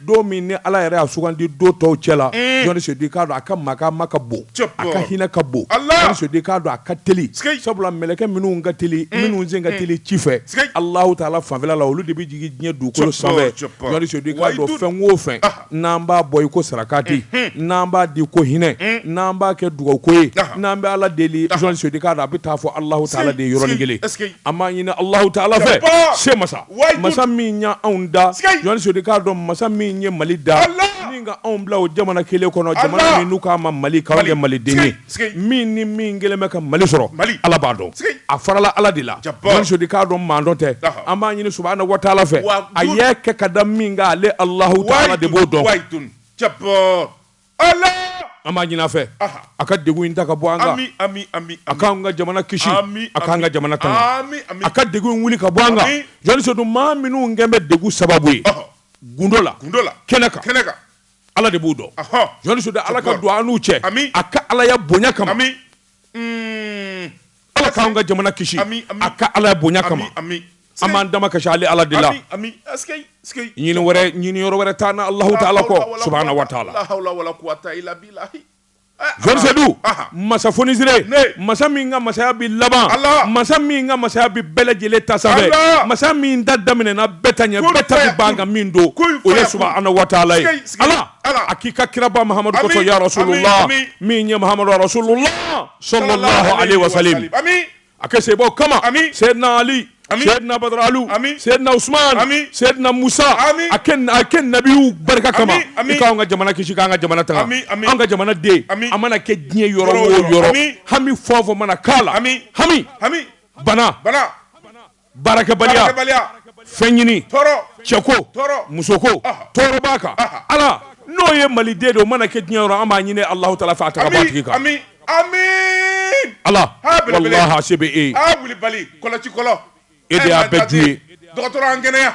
don min ni ala yɛrɛ y'a sugandi don tɔw cɛ la jɔnni k'a don a ka makama ka bon a ka hinɛ ka bon jɔnni k'a don a ka teli sabula mɛlɛkɛ minnu ka teli minnu sen ka teli ci fɛ ala taala fanfɛla la olu de bɛ jigin diɲɛ dugukolo sanfɛ jɔn'a don fɛn wo fɛn n'an b'a bɔ i ko sarakati n'an b'a di ko hinɛ n'an b'a kɛ dugawu ko ye n'an bɛ ala deli jɔnni k'a don a bɛ taa fo ala taala de yɔrɔ kelen an b'a ɲini ala taala fɛ se masa masa min y'anw da jɔnni k'a dɔn masa min ye mali da min ka anw bila o jamana kelen kɔnɔ jamana min n'u k'a ma mali k'an kɛ mali den ye min ni min kɛlen bɛ ka mali sɔrɔ ala b'a dɔn a farala ala de la jɔnni k'a dɔn maa dɔn tɛ an b'a ɲini subahana wa taala fɛ a y'a kɛ ka da min kan ale alahu taala de b'o dɔn an b'a ɲini a fɛ a ka degun in ta ka bɔ an kan a k'an ka jamana kisi a k'an ka jamana tanga a ka degun wuli ka bɔ an kan jɔnni don maa minnu kɛlen bɛ degun sababu ye gundo la kɛnɛ kan ala de b'u dɔn jɔnni ala ka don an n'u cɛ a ka alaya bonya kama ala k'an ka jamana kisi a ka alaya bonya kama an b'an damakasi ale ala de la ɲini wɛrɛ ɲini yɔrɔ wɛrɛ t'an na alahu taala kɔ subahana wa taala zorisedu masa fonisire masa min ka masaya bi laban masa min ka masaya bi bɛɛ lajɛlen ta sanfɛ masa min ta daminɛna bɛɛ ta ɲɛ bɛɛ ta bi ban ka min to o ye subahana wa taala ye ala a k'i ka kiraba mahamadu kosɔn ya rasulula min ye mahamadu rasulula salalahu aleyhi wa salim a kɛ sebɔ kama sɛdina ali sɛdina badara alu sɛdina usman sɛdina musa a kɛ nabiw barika kama i k'an ka jamana kisi k'an ka jamana tanga an ka jamana den a mana kɛ diɲɛ yɔrɔ o yɔrɔ hami fɛn o fɛn mana k'a la hami bana. baarakɛbaliya fɛn ɲini cɛko musoko tɔɔrɔ b'a kan ala n'o ye mali den don mana kɛ diɲɛ yɔrɔ an b'a ɲini alahu taala fɛ a ta k'a bɔ a tigi kan alase e e de y'a bɛɛ dun ye dɔgɔtɔrɔ an kɛnɛya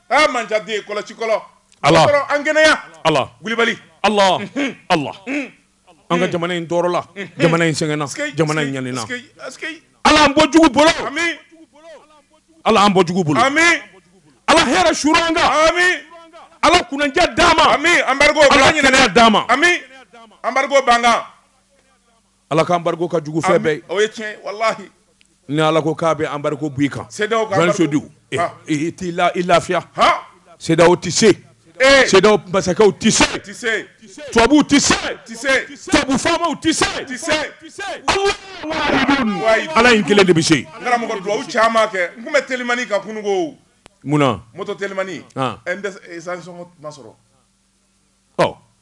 aa manjaden ye kɔlɔsikɔlɔ Allah dɔgɔtɔrɔ an kɛnɛya Allah wulibali Allah Allah an ka jamana in tɔɔrɔla jamana in sɛgɛnna Sikeyi, jamana in sikeyi, ɲanina sikeyi, sikeyi. Ala an bɔ jugu bolo Ami Ala an bɔ jugu bolo ami Ala hɛrɛ suuru an kan ami Ala kunnandiya d'an ma ami anbargo Ala kɛnɛya d'an ma ami anbargo b'an kan Ala ka embargo ka jugu fɛn bɛɛ ye. O ye tiɲɛ ye walahi. Ni Ala ko k'a bɛ embargo bɔ i kan. CEDEAO ka embargo. Jɔli Sedu. Han. I t'i la i lafiya. Han. CEDEAO tɛ se. Ee! CEDEAO masakɛw tɛ se. Tɛ se. Tubabuw tɛ se. Tɛ se. Tubabu faamaw tɛ se. Tɛ se. Allahou wahidou. Wahidou. Ala in kelen de bɛ se. N karamɔgɔ duwawu caman kɛ. N tun bɛ telimani kan kununko. Munna? Moto telimani. Han. Ɛ n dɛsɛ essence sɔngɔ ma sɔrɔ.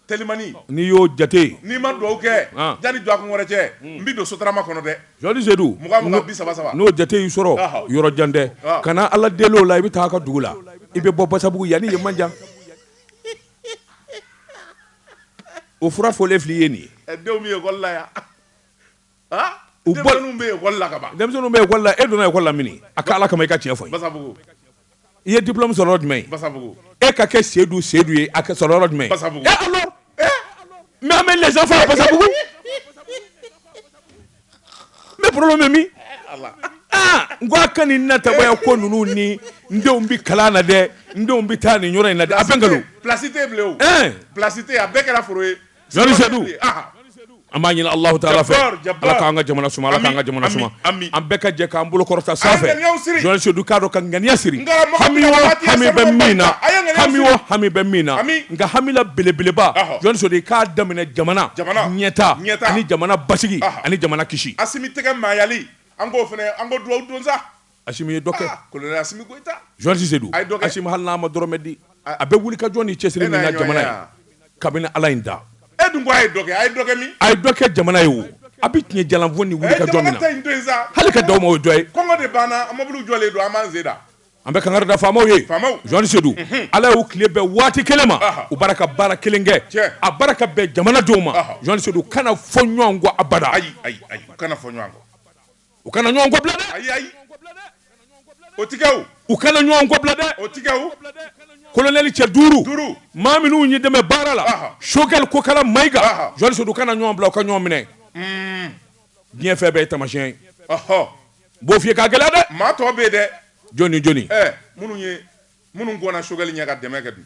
telimani n'i y'o jate n'i ma dugawu kɛ ah. jani dɔgɔkun wɛrɛ cɛ hmm. n bɛ don sotarama kɔnɔ dɛ jɔli sedu mugan mugan bi saba saba n'o jate y'i sɔrɔ yɔrɔ jan tɛ ah. kana ala deli o la i bɛ taa a ka dugu la i bɛ bɔ basabugu yanni ye man jan o fura fɔlen fil'i ye nin ye eh, denw bɛ ekɔli la yan u bɔ bɛla e donna ekɔli la mini a ko ala kama i ka tiɲɛ fɔ i ye diplɔmu sɔrɔ jumɛn e ka kɛ seyidu seyidu ye a sɔrɔ jumɛn mɛ bɛ lajɛ fa basabugu mais problème min n ko a ka nin na taya ko ninnu ni n denw bɛ kalan na dɛ n denw bɛ taa nin yɔrɔ in na dɛ a bɛ nkalon publicité a bɛɛ kɛra foro ye Sedu an b'a ɲini alahu taala fɛ ala k'an ka jamana suma ala k'an ka jamana suma an bɛɛ ka jɛ k'an bolo kɔrɔta sanfɛ jɔli sedu k'a dɔn ka ŋaniya siri hami hami bɛ min na hami hami bɛ min na nka hamila belebeleba jɔli sedu k'a daminɛ jamana ɲɛta ani jamana basigi ani jamana kisi Asimi tɛgɛ maayali an k'o fana an k'o dugawu don sa Asimi ye dɔ kɛ, aa colonel Asimi Goyita, Jɔli Seydou, a ye dɔ kɛ, Asimi hali n'a ma dɔrɔmɛ di, a bɛ wulikajɔ ni cɛsiri min na jamana ye, kabini Ala ye n da, e dun ko a ye dɔ kɛ, a ye dɔ kɛ min? A ye dɔ kɛ jamana ye o, a bɛ tiɲɛ jalan fɔ ni wulikajɔ min na, a ye jamana ta in to yen sa, hali ka dan o ma o ye dɔ ye? Kɔngɔ de b'an na, an mobiliw jɔlen don, an b'an sen na. An bɛ kangari da faamaw ye, faamaw, Jɔli Seydou, unhun, Ala y'u tile bɛn waati kelen ma, ɔhɔ, u bara ka baara kelen kɛ, tiɲɛ, a bara ka bɛn jamana denw ma, ɔhɔ, Jɔli Seydou, u kana fɔ ɲɔgɔn kɔ abada, ayi, ayi, ayi, u kana fɔ ɲɔgɔn kɔ. u kana ɲɔgɔn kɔbila dɛ ayi ayi o ti kɛ o u kana ɲɔgɔn kɔbila dɛ o ti kɛ o kolonɛli cɛ duuru duuru maa minnu ye dɛmɛ baara la Sogɛli Kokala Mayiga jɔli sedu u kana ɲɔgɔn bila u ka ɲɔgɔn minɛ hmm. diɲɛ fɛn bɛɛ ye tamasiyɛn ye n b'o f'i ye ka gɛlɛya dɛ maa tɔ bɛ yen dɛ jɔni jɔni minnu ye minnu gɔnna Sogɛli ɲɛ ka dɛmɛ kɛ dun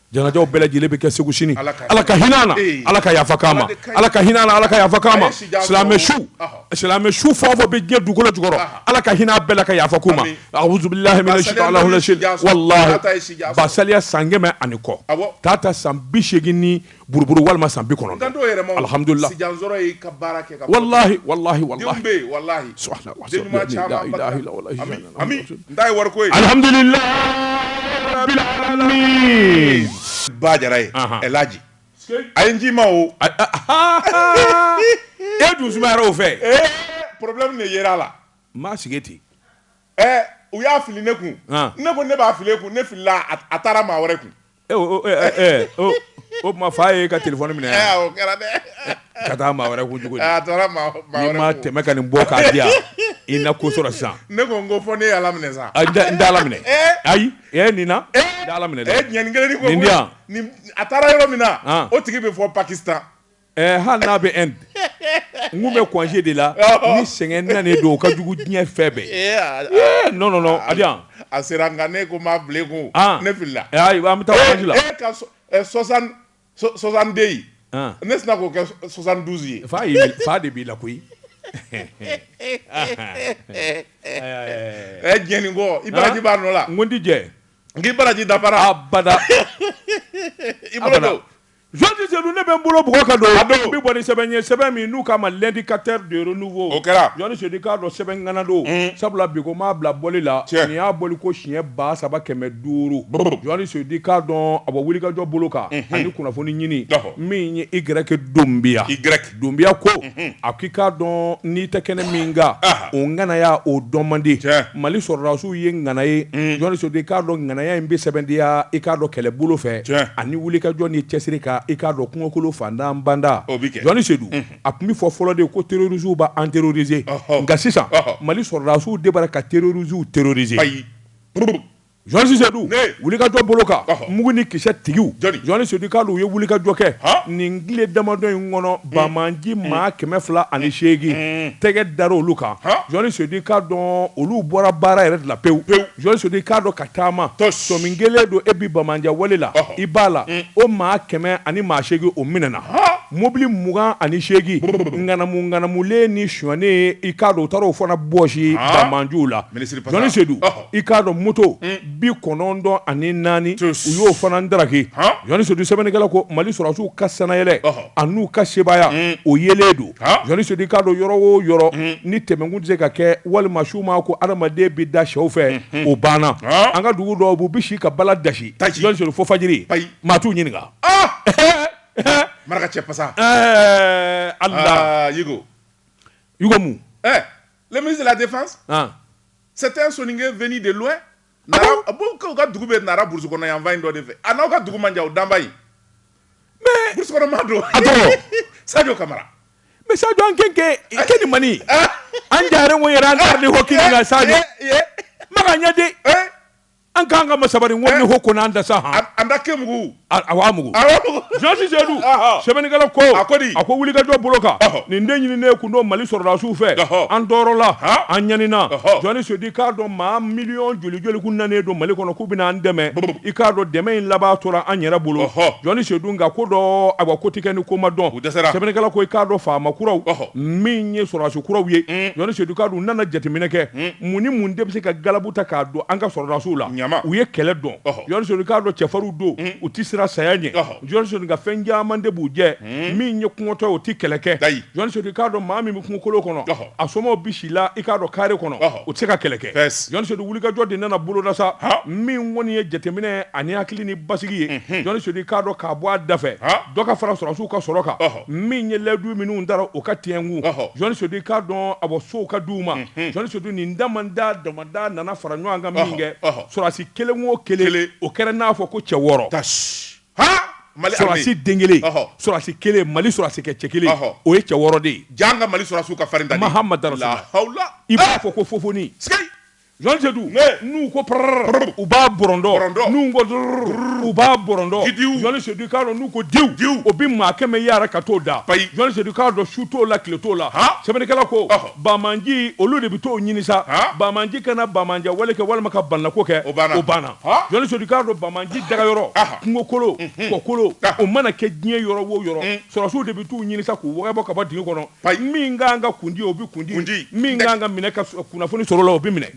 janajaw bɛɛ lajɛlen bɛ kɛ segu sini ala ka hinɛ na ala ka yafa k'an ma ala ka hinɛ na ala ka yafa k'an ma silamɛ su silamɛ su fɛn o fɛn bɛ diɲɛ dugukolo jukɔrɔ ala ka hinɛ a bɛɛ la ka yafa k'u ma ba saliya san kɛmɛ ani kɔ Tata san bi segin ni buruburu walima san bi kɔnɔ Ami n ta ye wari ko ye. Alhamdulila rabil alamin Ba Jara ye Anhan El Hadji a ye n ci i ma o. E dun sumayara o fɛ. Ee problème de yera a la. N b'a sigi ten. Ɛ u y'a fili ne kun. An. Ne ko ne b'a fili e kun, ne filila a taara maa wɛrɛ kun. o tuma fa ye ka téléphone minɛ kɛra ka taa maa wɛrɛ kun n'i ma tɛmɛ ka nin bɔ k'a di yan i na ko sɔrɔ sisan ne ko n ko fɔ ne ye ala minɛ sa n tɛ ala minɛ ayi e nin na n tɛ ala minɛ nin a taara yɔrɔ min na o tigi bɛ fo Pakistan Ɛɛ hali n'a bɛ Inde n tun bɛ congé de la ni sɛgɛn nanen don o ka jugu diɲɛ fɛn bɛɛ ee non non non Abidjan a sera nka ne ko n b'a bila i kun ne filila ayiwa an bɛ taa voyage la e ka 60 62 ne sina k'o kɛ 72 ye fa de b'i la koyi ɛ diɲɛnen kɔ i baraji b'a nɔ la n ko n tɛ diɲɛ n k'i baraji dafara abada i bolo don journaliste Seydou ne bɛ n bolo bugɔ ka don n bɛ bɔ ni sɛbɛn ye sɛbɛn min n'u k'a ma l'indicateur de renouveau o kɛra journaliste Seydou i k'a dɔn sɛbɛn ŋana don sabula bi ko m'a bila bɔli la nin y'a bɔli ko siɲɛ ba saba kɛmɛ duuru journaliste Seydou i k'a dɔn a bɔ wulikajɔ bolo kan ani kunnafoni ɲini min ye Y Dunbiya Y Dunbiya ko a ko i k'a dɔn n'i tɛ kɛnɛ min kan o ŋanaya o dɔn man di mali sɔrɔdasiw ye ŋana ye journaliste Seydou i k'a dɔn ŋanaya in bɛ sɛbɛntiya i k'a dɔn kɛlɛbolo fɛ ani wulikajɔ ni cɛsiri kan i k'a dɔn kungokolo fantan banda journaliste Seydou a tun bɛ fɔ fɔlɔ de ko terroristes bɛ an terroriser nka sisan mali sɔrɔdasiw de b'a la ka terroristes terroriser Journaliste Seydou wulikajɔ bolo kan mugu ni kisɛ tigiw journaliste Seydou i k'a dɔn u ye wulikajɔ kɛ nin tile damadɔ in kɔnɔ banbaganci maa kɛmɛ fila ani seegin tɛgɛ dara olu kan journaliste Seydou i k'a dɔn olu bɔra baara yɛrɛ la pewu pewu journaliste Seydou i k'a dɔn ka taa maa tɔ sɔmi kɛlen don e bɛ banbaganci wale la i b'a la o maa kɛmɛ ani maa seegin o minɛna mɔbili mugan ani seegin ŋanamuŋanamulen ni sonyanen i k'a dɔn u taara o fana bɔsi banbaganciw la journaliste Seydou i k'a dɔn moto bi kɔnɔntɔn ani naani u y'o fana daraki journaliste Seydou sɛbɛnnikɛla ko mali sɔrɔdasiw ka sannayɛlɛn ani n'u ka sebaaya o yelen don journaliste Seydou i k'a dɔn yɔrɔ o yɔrɔ ni tɛmɛkun tɛ se ka kɛ walima su ma ko adamaden bɛ da shɛw fɛ o banna an ka dugu dɔw bi u bɛ si ka bala dansi fo fajiri maa t'u ɲininka maraka cɛ pasa a le ministre de la défense ah. c'est un soninke venu de loin nara ah bon o ka dugu bɛ nara burusi kɔnɔ yan fan in dɔ de fɛ a n'aw ka dugu man jan o danba in mais burusi kɔnɔ maa don a tɔgɔ sadio kamara mais sadio an kenke ke ni mani an jare wo yɛrɛ an tari ni hɔkini ka sadio maga ɲɛ de an k'an ka masaba ko eh. ko ko'an da sa hɔn an da ke mugu amugu jɔnsi sedu sɛbɛnnikɛla ko a ko a ko wulikajɔ bolo kan nin de ɲininen kun don mali sɔrɔdasiw fɛ an tɔɔrɔla an ɲanina jɔnni sedu i k'a dɔn maa miliyɔn joli joli kun nanen don mali kɔnɔ k'u bɛna an dɛmɛ i k'a dɔn dɛmɛ in laban tora an yɛrɛ bolo jɔnni sedu nka ko dɔ awa ko tɛ kɛ ni ko ma dɔn sɛbɛnnikɛla ko i k'a dɔn faama kuraw min ye sɔrɔdasi kuraw ye mm. jɔnni sedu k'a dɔn u nana jateminɛ kɛ mm. mun ni mun de bɛ se ka galabu ta k'a don an ka sɔrɔdasiw la u ye kɛlɛ dɔn jɔnni sedu i k'a dɔn cɛfarinw don u tɛ siran saya ɲɛ jɔnni sedu nka fɛn caman de b'u jɛ min ye kɔngɔtɔ o tɛ kɛlɛ kɛ jɔnni sedu k'a dɔn maa min bɛ kungokolo kɔnɔ a somaaw bɛ si la i k'a dɔn kare kɔnɔ u tɛ se ka kɛlɛ kɛ jɔnni sedu wulikajɔ de nana boloda sa min kɔni ye jateminɛ ani hakili ni basigi ye jɔnni sedu i k'a dɔn k'a bɔ a da fɛ dɔ ka fara sɔrɔdasiw ka sɔrɔ kan min ye layidu minnu tara o ka tiɲɛ ko jɔnni sedu i k'a dɔn a bɔ sow ka di u ma jɔnni sedu nin damada damada nana fara ɲɔgɔn kan min kɛ sɔrɔsi kelen o kelen o kɛra n'a fɔ ko cɛ wɔɔrɔ sɔrɔsi den kelen sɔrɔsi kelen mali sɔrɔsi kɛ cɛ kelen o ye cɛ wɔɔrɔ de ye ka mali sɔrɔsiw ka farin mahamadu rasulula i b'a fɔ ko fofoni Jɔnsedu n'u ko pprrr u b'a bɔrɔndɔ n'u ko drrrr u b'a bɔrɔndɔ jɔnni sedu k'a dɔn n'u ko diw diw o bɛ maa kɛmɛ yaara ka t'o da bayi jɔnni sedu k'a dɔn su t'o la tile t'o la sɛbɛnnikɛla ko banmanci olu de bɛ t'o ɲini sa banmanci kana banmanciya wale kɛ walima ka banako kɛ o banna o banna jɔnni sedu k'a dɔn banmanci dagayɔrɔ kungokolo kɔkolo o mana kɛ diɲɛ yɔrɔ o yɔrɔ sɔrɔsiw de bɛ t'u ɲini sa k'u wɔgɔbɛ ka bɔ dingɛ kɔnɔ min ka kan ka kundi o bɛ kundi kundi min ka kan ka minɛ ka kunnafoni sɔrɔ la o bɛ minɛ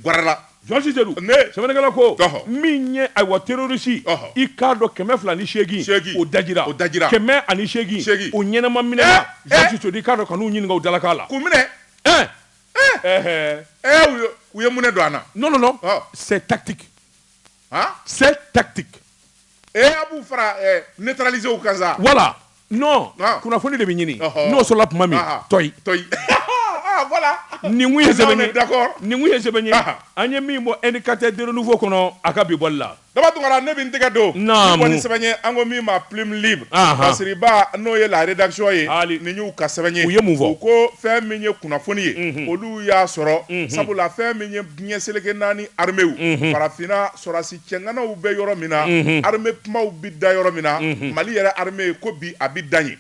jɔnni sedu sɛbɛnnikɛla ko min ye awa terɔrisi i k'a dɔn kɛmɛ fila ni segin segin o daji o da kɛmɛ ani segin segin o ɲɛnama minɛna i k'a dɔn kana n ɲininka o dalakan la k'u minɛ u ye mun don a na non tactique c'est tactique ee a b'u fara neutraliséw kan sa voilà non ah. kunnafoni de bɛ ɲini n'o sɔrɔla tuma min tɔyi tɔyi voilà nin kun ye sɛbɛn ye d'accord nin kun ye sɛbɛn ye an ye min bɔ indicateur de renouveau kɔnɔ a ka bi bɔli la daba tunkara ne bɛ n tɛgɛ don naamu kɔni sɛbɛn ye an ko min ma plume libre basiriba n'o ye la rédaction ye hali nin y'u ka sɛbɛn ye u ye mun fɔ u ko fɛn min ye kunnafoni ye mhm. olu y'a sɔrɔ mhm. sabula fɛn min ye diɲɛ seleke naani arméew mhm. farafinna sɔrɔdasi Cɛganaw bɛ yɔrɔ min na armée kumaw bɛ da yɔrɔ min na mali yɛrɛ armée ye ko bi a bɛ da ye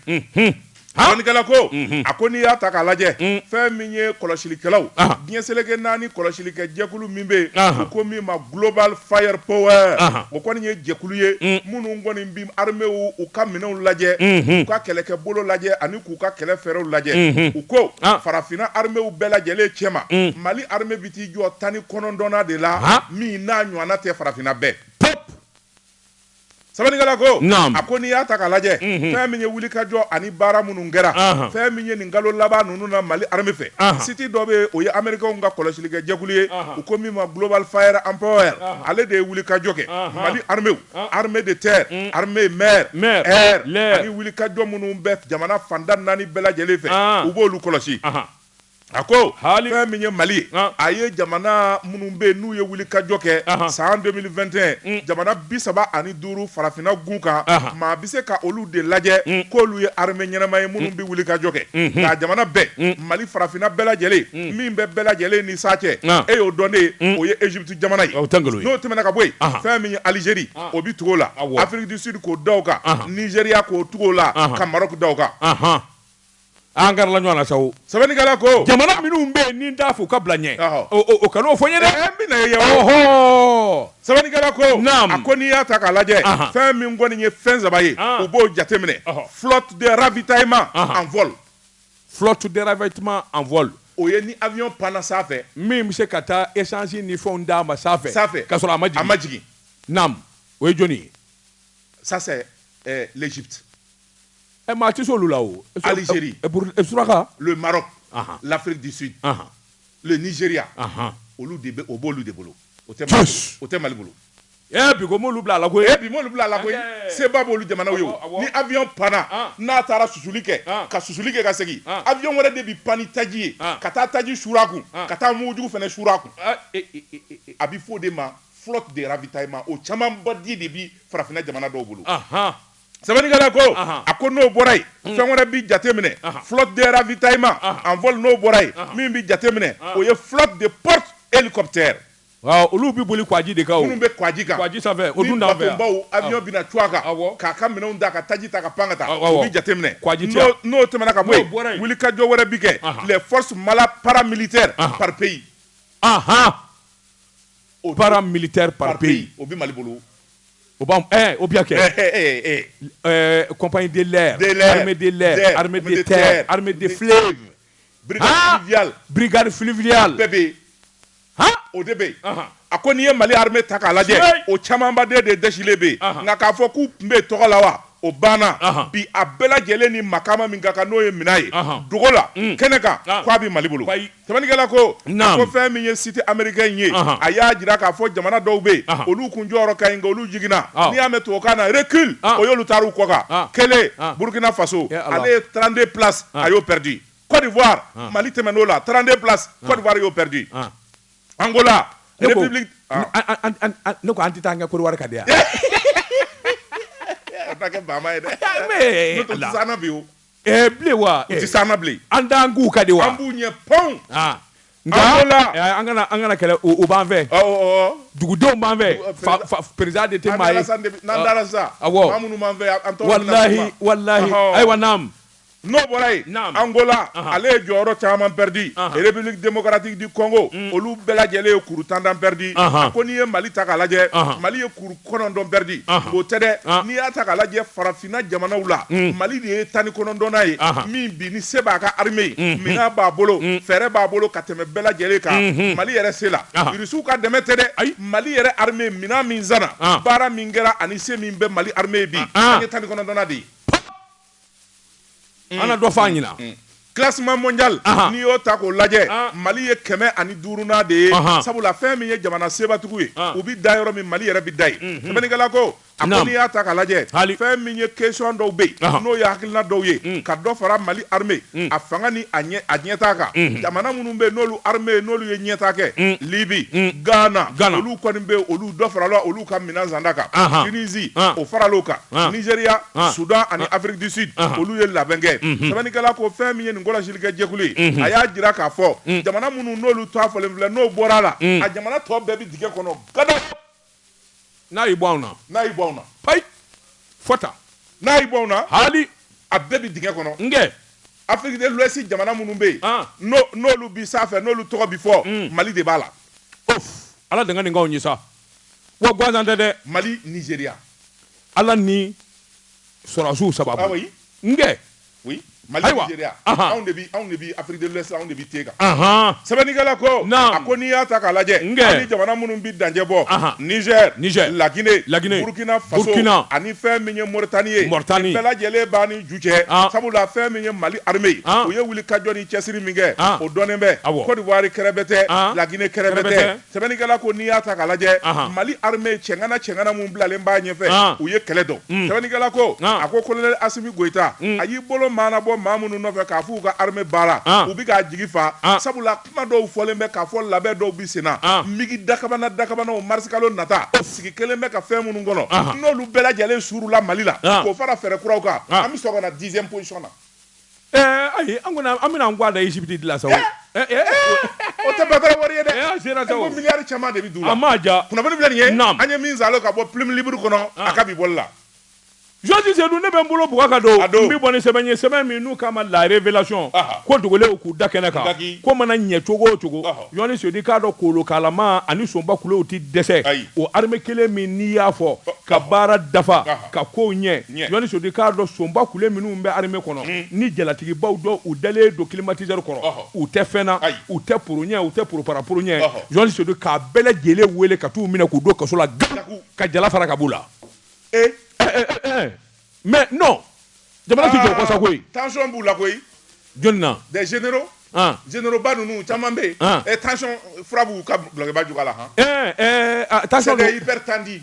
sɛbɛnnikɛla ko a ko n'i y'a ta k'a lajɛ fɛn min ye kɔlɔsilikɛlaw diɲɛ seleke naani kɔlɔsilikɛ jɛkulu min bɛ yen u ko min ma Global Fire Power o kɔni ye jɛkulu ye minnu kɔni bɛ arméew ka minɛnw lajɛ u ka kɛlɛkɛbolo lajɛ ani k'u ka kɛlɛ fɛɛrɛw lajɛ u ko farafinna arméew bɛɛ lajɛlen cɛma mali jɔ tan ni kɔnɔntɔnnan de la min n'a ɲɔgɔnna tɛ farafinna bɛɛ sɛbɛnnikɛla ko a ko n'i y'a ta k'a lajɛ fɛn min ye wulikajɔ ani baara minnu kɛra fɛn min ye nin kalo laban ninnu na mali armée fɛ siti dɔ bɛ o ye amerikɛnw ka kɔlɔsilikɛ jɛkulu ye u ko min ma Global Fire Power ale de ye wulikajɔ kɛ mali armée armée de terre armée mer ani wulikajɔ minnu bɛ jamana fanda naani bɛɛ lajɛlen fɛ u b'oolu kɔlɔsi A ko fɛn min ye mali ye a ye jamana minnu bɛ yen n'u ye wulikajɔ kɛ san deux mille vingt et un jamana bi saba ani duuru farafinna gun kan maa bɛ se ka olu de lajɛ k'olu ye armée ɲɛnama ye minnu bɛ wulikajɔ kɛ nka jamana bɛɛ mali farafinna bɛɛ lajɛlen min bɛ bɛɛ lajɛlen ɲɛ sa cɛ e y'o dɔn de o ye Égypte jamana ye n'o tɛmɛna ka bɔ yen fɛn min ye Algérie o bɛ tugu o la Afrique du Sud k'o da o kan Nigéria k'o tugu o la ka Maroc da o kan an gɛrɛla ɲɔgɔn na sa o sɛbɛnnikɛla ko jamana minnu bɛ yen ni n t'a fɔ ka bila ɲɛ Ɔhɔ. o- o o kana o fɔ n ye dɛ Eh, n bɛna ye yan. ɔhɔ sɛbɛnnikɛla ko Naam. a ko n'i y'a ta k'a lajɛ Ahan. fɛn min kɔni ye fɛn saba ye Ah. u b'o jateminɛ Ɔhɔ. flotte de ravitaillement Ahan. en vol flotte de ravitaillement en vol o ye ni avion panna sanfɛ min bɛ se ka taa essence ni fɛnw d'a ma sanfɛ sanfɛ ka sɔrɔ a ma a jigin ma jigin naam o ye jɔni ye ça c'est eh, l'Égypte ɛ maa tɛ se olu la o Algérie ɛ Burkina ɛ suraka le Maroc ahan l'Afrique du Sud ahan le Nigeria ahan olu de bɛ o b'olu de bolo o tɛ Mali bolo o tɛ Mali bolo ee bi ko m'olu bila a la koyi ee bi m'olu bila a la koyi seba b'olu jamanaw ye o ni avion panna n'a taara susuli kɛ ka susuli kɛ ka segin avion wɛrɛ de bi pan ni taji ye ka taa taji suuru a kun ka taa mugujugu fana suuru a kun a bi fɔ o de ma flotte de ravitaillement o camanba de bi farafinna jamana dɔw bolo Sɛbɛnnikɛla ko a ko n'o bɔra yen hmm. fɛn wɛrɛ bɛ jateminɛ flotte de ravitaillement en vol n'o bɔra yen min bɛ jateminɛ o ye flotte de porte hélicoptère olu bɛ boli kwaji de kan minnu bɛ kwaji kan kwaji sanfɛ o dun t'an fɛ yan bateau avion bɛna cun a kan k'a ka minɛnw da ka taji ta ka pan ka taa o bɛ jateminɛ kwaji tɛ yan n'o tɛmɛna ka bɔ yen wulikajɔ wɛrɛ bɛ kɛ les forces mala paramilitaires par pays paramilitaire par pays o bɛ Mali bolo O b'an ɛɛ o bɛ ka kɛ ɛɛ ɛɛ ɛɛ compagnie de l'air de l'air armée de l'air armée de terre armée de fleuve brigade fluviale brigade fluviale bɛɛ bɛ yen han o de bɛ yen a ko n'i ye Mali armée ta k'a lajɛ o camanba de dɛsilen bɛ yen nka k'a fɔ k'u tun bɛ yen tɔgɔ la wa o banna bi a bɛɛ lajɛlen ni makaama min ka kan n'o ye minɛn ye dogo la kɛnɛ kan k'a bɛ Mali bolo. Sɛbɛnnikɛla ko a ko fɛn min ye site américain ye a y'a jira k'a fɔ jamana dɔw bɛ yen olu kun jɔyɔrɔ ka ɲi nka olu jiginna n'i y'a mɛn tubabukan na recul o y'olu taara u kɔ kan kelen burkina faso ale ye trente-deux places a y'o pɛridi côte d'ivoire mali tɛmɛn'o la trente-deux places côte d'ivoire y'o pɛridi angola ne ko an tɛ taa an kɛ côte d'ivoire ka di an ye dɛ bi ɛɛ eh, bilen wa u tɛ s'an na bilen an t'an k'u ka de wa an b'u ɲɛ pɔnw ah. nka eh, an kana an kana kɛlɛ o b'an fɛ dugudenw b'an fɛ président de tɛ maa ye n'an dara sisan ah, awɔ maa minnu b'an fɛ an tɔgɔ walahi walahi ayiwa naam n'o bɔra yen angola ale ye jɔyɔrɔ caman pɛridi république démocratique du congo mm. olu bɛɛ lajɛlen ye kuru tan tan pɛridi a ko n'i ye mali ta k'a lajɛ mali ye kuru kɔnɔntɔn pɛridi o tɛ dɛ n'i y'a ta k'a lajɛ farafin na jamanaw la, un, Mali de ye tan ni kɔnɔntɔnnan ye, anhan, min bi ni se b'a ka armée ye, unhun, minɛn b'a bolo, un, fɛɛrɛ b'a bolo ka tɛmɛ bɛɛ lajɛlen kan, unhun, Mali yɛrɛ se la, anhan, Russiw ka dɛmɛ tɛ dɛ, ayi, Mali yɛrɛ armée minɛn min sanna, an, baara min kɛra ani se min bɛ Mali armée ye bi, an, an ye tan ni kɔnɔntɔnnan de ye. mm. an na dɔ fɔ an ɲɛna mm. classement mondial n'i y'o ta k'o lajɛ ah. mali ye kɛmɛ ani duurunan de ye sabula fɛn min ye jamana sebatigiw ye ah. u bi da yɔrɔ min mali yɛrɛ bi da yen mm-hmm. sɛbɛnnikɛla ko a ko n'i y'a ta k'a lajɛ fɛn min ye question dɔw bɛ yen n'o ye hakilina dɔw ye mm. ka dɔ fara mali arme mm. a fanga ni a ɲɛtaa kan mm-hmm. jamana minnu bɛ yen n'olu arme n'olu ye ɲɛtaa kɛ mm. libi ghana olu kɔni bɛ yen olu dɔ farala olu ka minɛn santa kan tunisi o faral'o kan nizeriya Ah. Soudan ani ah. Afrique du Sud ah. olu ye labɛn kɛ mhm. sɛbɛnnikɛla ko fɛn min ye nin kɔlɔsilikɛ jɛkulu ye mhm. a y'a jira k'a fɔ mhm. jamana minnu n'olu ta fɔlen filɛ n'o bɔra a la a jamana tɔ bɛɛ bɛ dingɛ kɔnɔ gada n'a y'i bɔ anw na n'a y'i bɔ anw na payi fɔ ta n'a y'i bɔ anw na hali a bɛɛ bɛ dingɛ kɔnɔ n kɛ Afrique de l'Ouest jamana minnu bɛ yen n'olu bi sanfɛ n'olu tɔgɔ bi fɔ mm. Mali de b'a la ala danga nin k'anw ye sa wa gansan tɛ dɛ mali nizeria ala ni sɔrɔdasiw sababu ah oui n kɛ oui mali ayiwa nizeria anw de bi anw de bi afrique de l'ouest anw de bi te kan ahan sɛbɛnnikɛla ko a ko n'i y'a ta k'a lajɛ n kɛ ani jamana minnu bi dancɛ bɔ niger niger la guinée la guinée burkina faso burkina ani fɛn min ye moritani ye moritani bɛɛ lajɛlen b'a ni ju cɛ sabula fɛn min ye mali armée ye o ye wulikajɔ ni cɛsiri min kɛ o dɔnnen bɛ cote d'ivoire kɛrɛbɛtɛ la guinée kɛrɛbɛtɛ Sɛbɛnnikɛla ko n'i y'a ta k'a lajɛ, anhan, Mali armée cɛŋana cɛŋana minnu bilalen b'a ɲɛfɛ, an, u ye kɛlɛ dɔn, un, sɛbɛnnikɛla ko, an, a ko colonel Asimi Goyita, un, a y'i bolo maanabɔ maa minnu nɔfɛ k'a f'u ka armée baara, an, u bɛ k'a jigi fa, an, sabula kuma dɔw fɔlen bɛ k'a fɔ labɛn dɔw bɛ senna, an, migi dakabana dakabanaw marisikalo nata sigi kɛlen bɛ ka fɛn minnu kɔnɔ, anhan, n'olu bɛɛ lajɛlen suurula Mali la, an, k'o fara fɛɛrɛ kuraw kan, an, an bɛ sɔrɔ ka na dixième position na. Ayi an bɛna an ga da Égypte de la sa o tɛ ba wari ye dɛ miliyari caman de bɛ a ma ja bɛ an ye min sa ka bɔ Plume Libre kɔnɔ a ka bi bɔli la Jɔni Seydou ne bɛ n bolo bugu ka don n bɛ bɔ ni sɛbɛn ye sɛbɛn min n'u k'a ma La Révélation ko dogolenw k'u da kɛnɛ kan ko mana ɲɛ cogo o cogo Jɔni Seydou k'a dɔn kolonkalama ani sonba kulew tɛ dɛsɛ o armée kelen min n'i y'a fɔ ka baara dafa ka kow ɲɛ Jɔni Seydou k'a dɔn sonba kule minnu bɛ armée kɔnɔ ni jalatigibaw don u dalen don climatiseur kɔrɔ u tɛ fɛn na u tɛ poro ɲɛ u tɛ poropara poro ɲɛ Jɔni Seydou k'a bɛɛ lajɛlen wele ka t'u minɛ k'u don kaso la k'a bugu ka jala fara ka b'u la ee mais non jamana tɛ jɔ o kɔ sa koyi tension b'u la koyi jɔnni na des généraux généraux ba ninnu caman bɛ yen tension fura b'u ka dulɔkiba jufa la han tension don hypertendue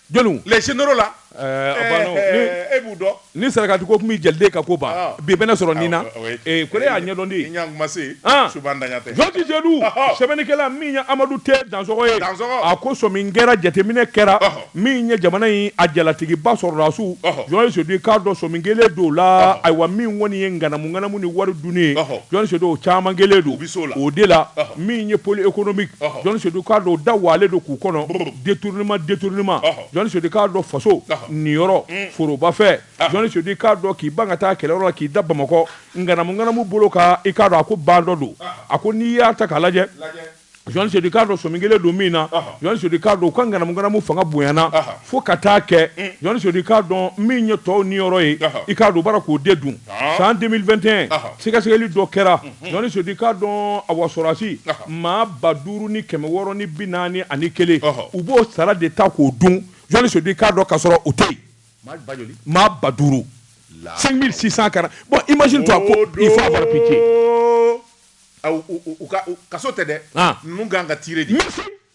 Jɔnni les généraux la ɛɛ a banna o ni ɛɛ e b'u dɔn ni sarakati ko min jeli den ka ko ban ɔɔ bi bɛ ne sɔrɔ nin na awɔ oui ee ko ne y'a ɲɛdɔn de i ɲɛ tun ma se yen an Suba Ntaɲa tɛ Jɔni Seydou ɔhɔ sɛbɛnnikɛla min ye Amadu T Dansɔgɔ ye Dansɔgɔ a ko sɔmin kɛra jateminɛ kɛra ɔhɔ min ye jamana in a jalatigiba sɔrɔdasiw ɔhɔ Jɔni Seydou i k'a dɔn sɔmin kɛlen don o la ɔhɔ ayiwa min kɔni ye ŋanamu-ŋanamu ni wari dunni ye ɔhɔ Jɔni Seydou o caman kɛlen don o de la min ye pôle économique Jɔni Seydou k'a dɔn da waalen don k'u kɔnɔ détournement détournement Jɔni Seydou k'a dɔn faso niyɔrɔ forobafɛn Jɔni Seydou k'a dɔn k'i ban ka taa kɛlɛyɔrɔ la k'i da Bamakɔ ŋanamu-ŋanamu bolo kan i k'a dɔn a ko ba dɔ don a ko n'i y'a ta k'a lajɛ Jɔni Seydou k'a dɔn sɔmi kɛlen don min na Jɔni Seydou k'a don u ka ŋanamu-ŋanamu fanga bonyana fo ka taa kɛ Jɔni Seydou k'a dɔn min ye tɔw niyɔrɔ ye i k'a dɔn u b'a la k'o de dun san deux mille vingt et un sɛgɛsɛgɛli dɔ kɛra Jɔni Seydou k'a dɔn awa sɔrasi maa ba duuru ni kɛmɛ wɔɔrɔ ni bi naani ani kelen u b'o sara de ta k'o dun Jɔni Seydou k'a dɔn k'a sɔrɔ u tɛ yen maa ba duuru cinq mille six cent quarante bon imagine-toi il faut avoir pitié kaso tɛ dɛ ka kan ka tire di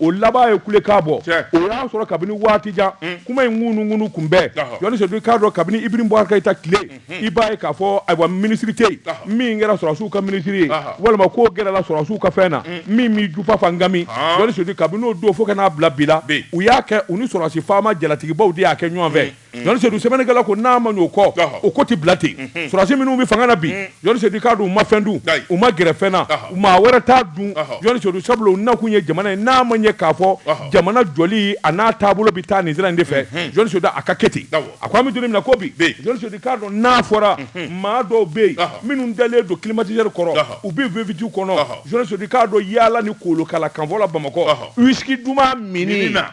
o laban ye kulekan bɔ o y'a sɔrɔ kabini waati jan mm. kuma in ŋunuŋunu tun bɛ Jɔni Seydou k'a dɔn kabini Ibrahim Boubacar Keïta tile mm-hmm. i b'a ye k'a fɔ ayiwa minisiri tɛ yen min kɛra sɔrɔsiw ka minisiri ye walima k'o gɛrɛla sɔrɔsiw ka fɛn na mm. min m'i jufa fa gami Jɔni Seydou kabini o don fo ka n'a bila bi la u y'a kɛ u ni sɔrɔsi faama jalatigibaw de y'a kɛ ɲɔgɔn fɛ mm. Sedu sɛbɛnkɛla ko n'a ma ɲɛ o ko tɛ bila ten sɔrɔdasi minnu bɛ fanga la bi Sedu k'a dɔn u ma fɛn dun u ma gɛrɛ fɛn na maa wɛrɛ t'a dun Sedu sabu u nakun ye jamana ye n'a ma ɲɛ k'a fɔ jamana jɔli an'a taabolo bɛ taa nin sira in de fɛ Sedu a ka kɛ ten a ko an bɛ na ko bi dɔn n'a fɔra maa dɔw bɛ yen minnu dalen don climatiseur kɔrɔ u bɛ V8 kɔnɔ Sedu k'a dɔn yaala ni kolokala kanfɔla bamakɔ whisky duman min na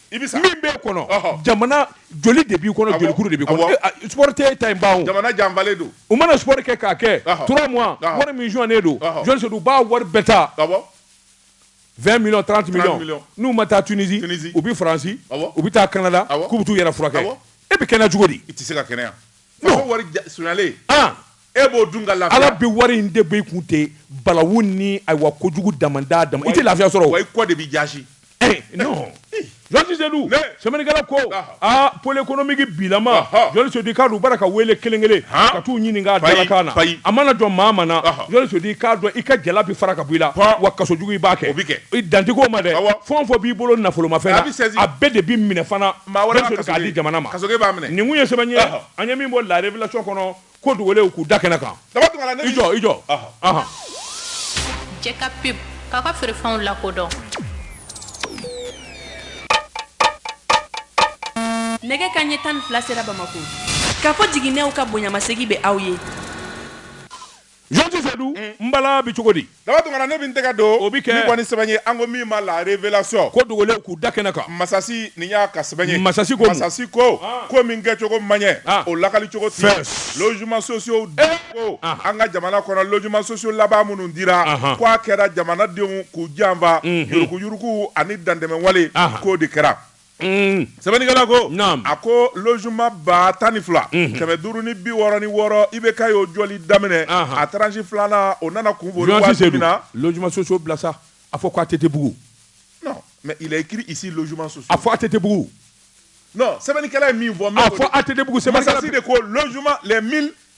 I bɛ sa. min b'e kɔnɔ Ɔhɔ. jamana joli de b'i kɔnɔ Awɔ. jolikuru de b'i Awɔ. kɔnɔ E, a, sport tɛ e ta in ban o Jamana janfalen don. u mana sport kɛ k'a kɛ Ɔhɔ. trois mois Ɔhɔ. wari min sonyalen don Ɔhɔ. Jɔn Sedu u b'a wari bɛɛ ta Awɔ. 20 millions 30 millions millions. n'u ma taa Tunisie Tunisie. u bɛ France Awɔ. u bɛ taa Canada Awɔ. k'u bɛ t'u yɛrɛ furakɛ Awɔ. e bɛ kɛnɛya cogo di I tɛ se ka kɛnɛya. wari sonyalen e b'o dun ka la ala bɛ wari in de bɔ i kun ten balawu ni ayiwa ko kojugu dama dama i tɛ lafiya sɔrɔ wa i ko de bɛ jaasi sɛbɛnkɛla ko aa pôle économique bila u ma jɔnni ka bara ka weele kelen kelen ka t'u ɲininka na a mana jɔ maa min na jɔnni k'a dɔn i ka jala bɛ fara ka bɔ i la wa kasojugu b'a kɛ bɛ kɛ i dantigi ma dɛ fɛn fɛn b'i bolo nafolomafɛn na a bɛɛ de bɛ minɛ fana maa wɛrɛ ka kaso di jamana ma kaso b'a minɛ nin tun ye sɛbɛn ye an ye min bɔ la révélation kɔnɔ ko dogolenw k'u da kɛnɛ kan Daba Tunkara i jɔ i jɔ jɛ ka pub k'a ka feerefɛnw lakodɔn nɛgɛ kanɲɛ tan ni fila sera bamako Kafo Jiginɛw ka bonyamasegin bɛ aw ye Jɔnji Sedu n bala bɛ cogo di Daba Tunkara ne bɛ n tɛgɛ don nin kɔni sɛbɛn ye an ko min ma la révélation ko dogolen k'u da kɛnɛ kan masasi nin y'a ka sɛbɛn ye masasi ko masasi ko ko min kɛcogo ma ɲɛ o lakali cogo tɛ logements sociaux de ko an ka jamana kɔnɔ logements sociaux laban minnu dira ko a kɛra jamanadenw k'u janfa yuruguyurugu ani dantɛmɛwale k'o de kɛra sɛbɛnnikɛla ko a ko logement ba tan ni fila kɛmɛ duuru ni bi wɔɔrɔ ni wɔɔrɔ IBK y'o jɔli daminɛ a tranche filanan o nana kun boli waati min na logements sociaux bila sa a fɔ ko ATT bugu non mais il est écrit ici logements sociaux a fɔ ATT bugu non sɛbɛnnikɛla ye min fɔ a fɔ ATT bugu sɛbɛnnikɛla de ko logement les mille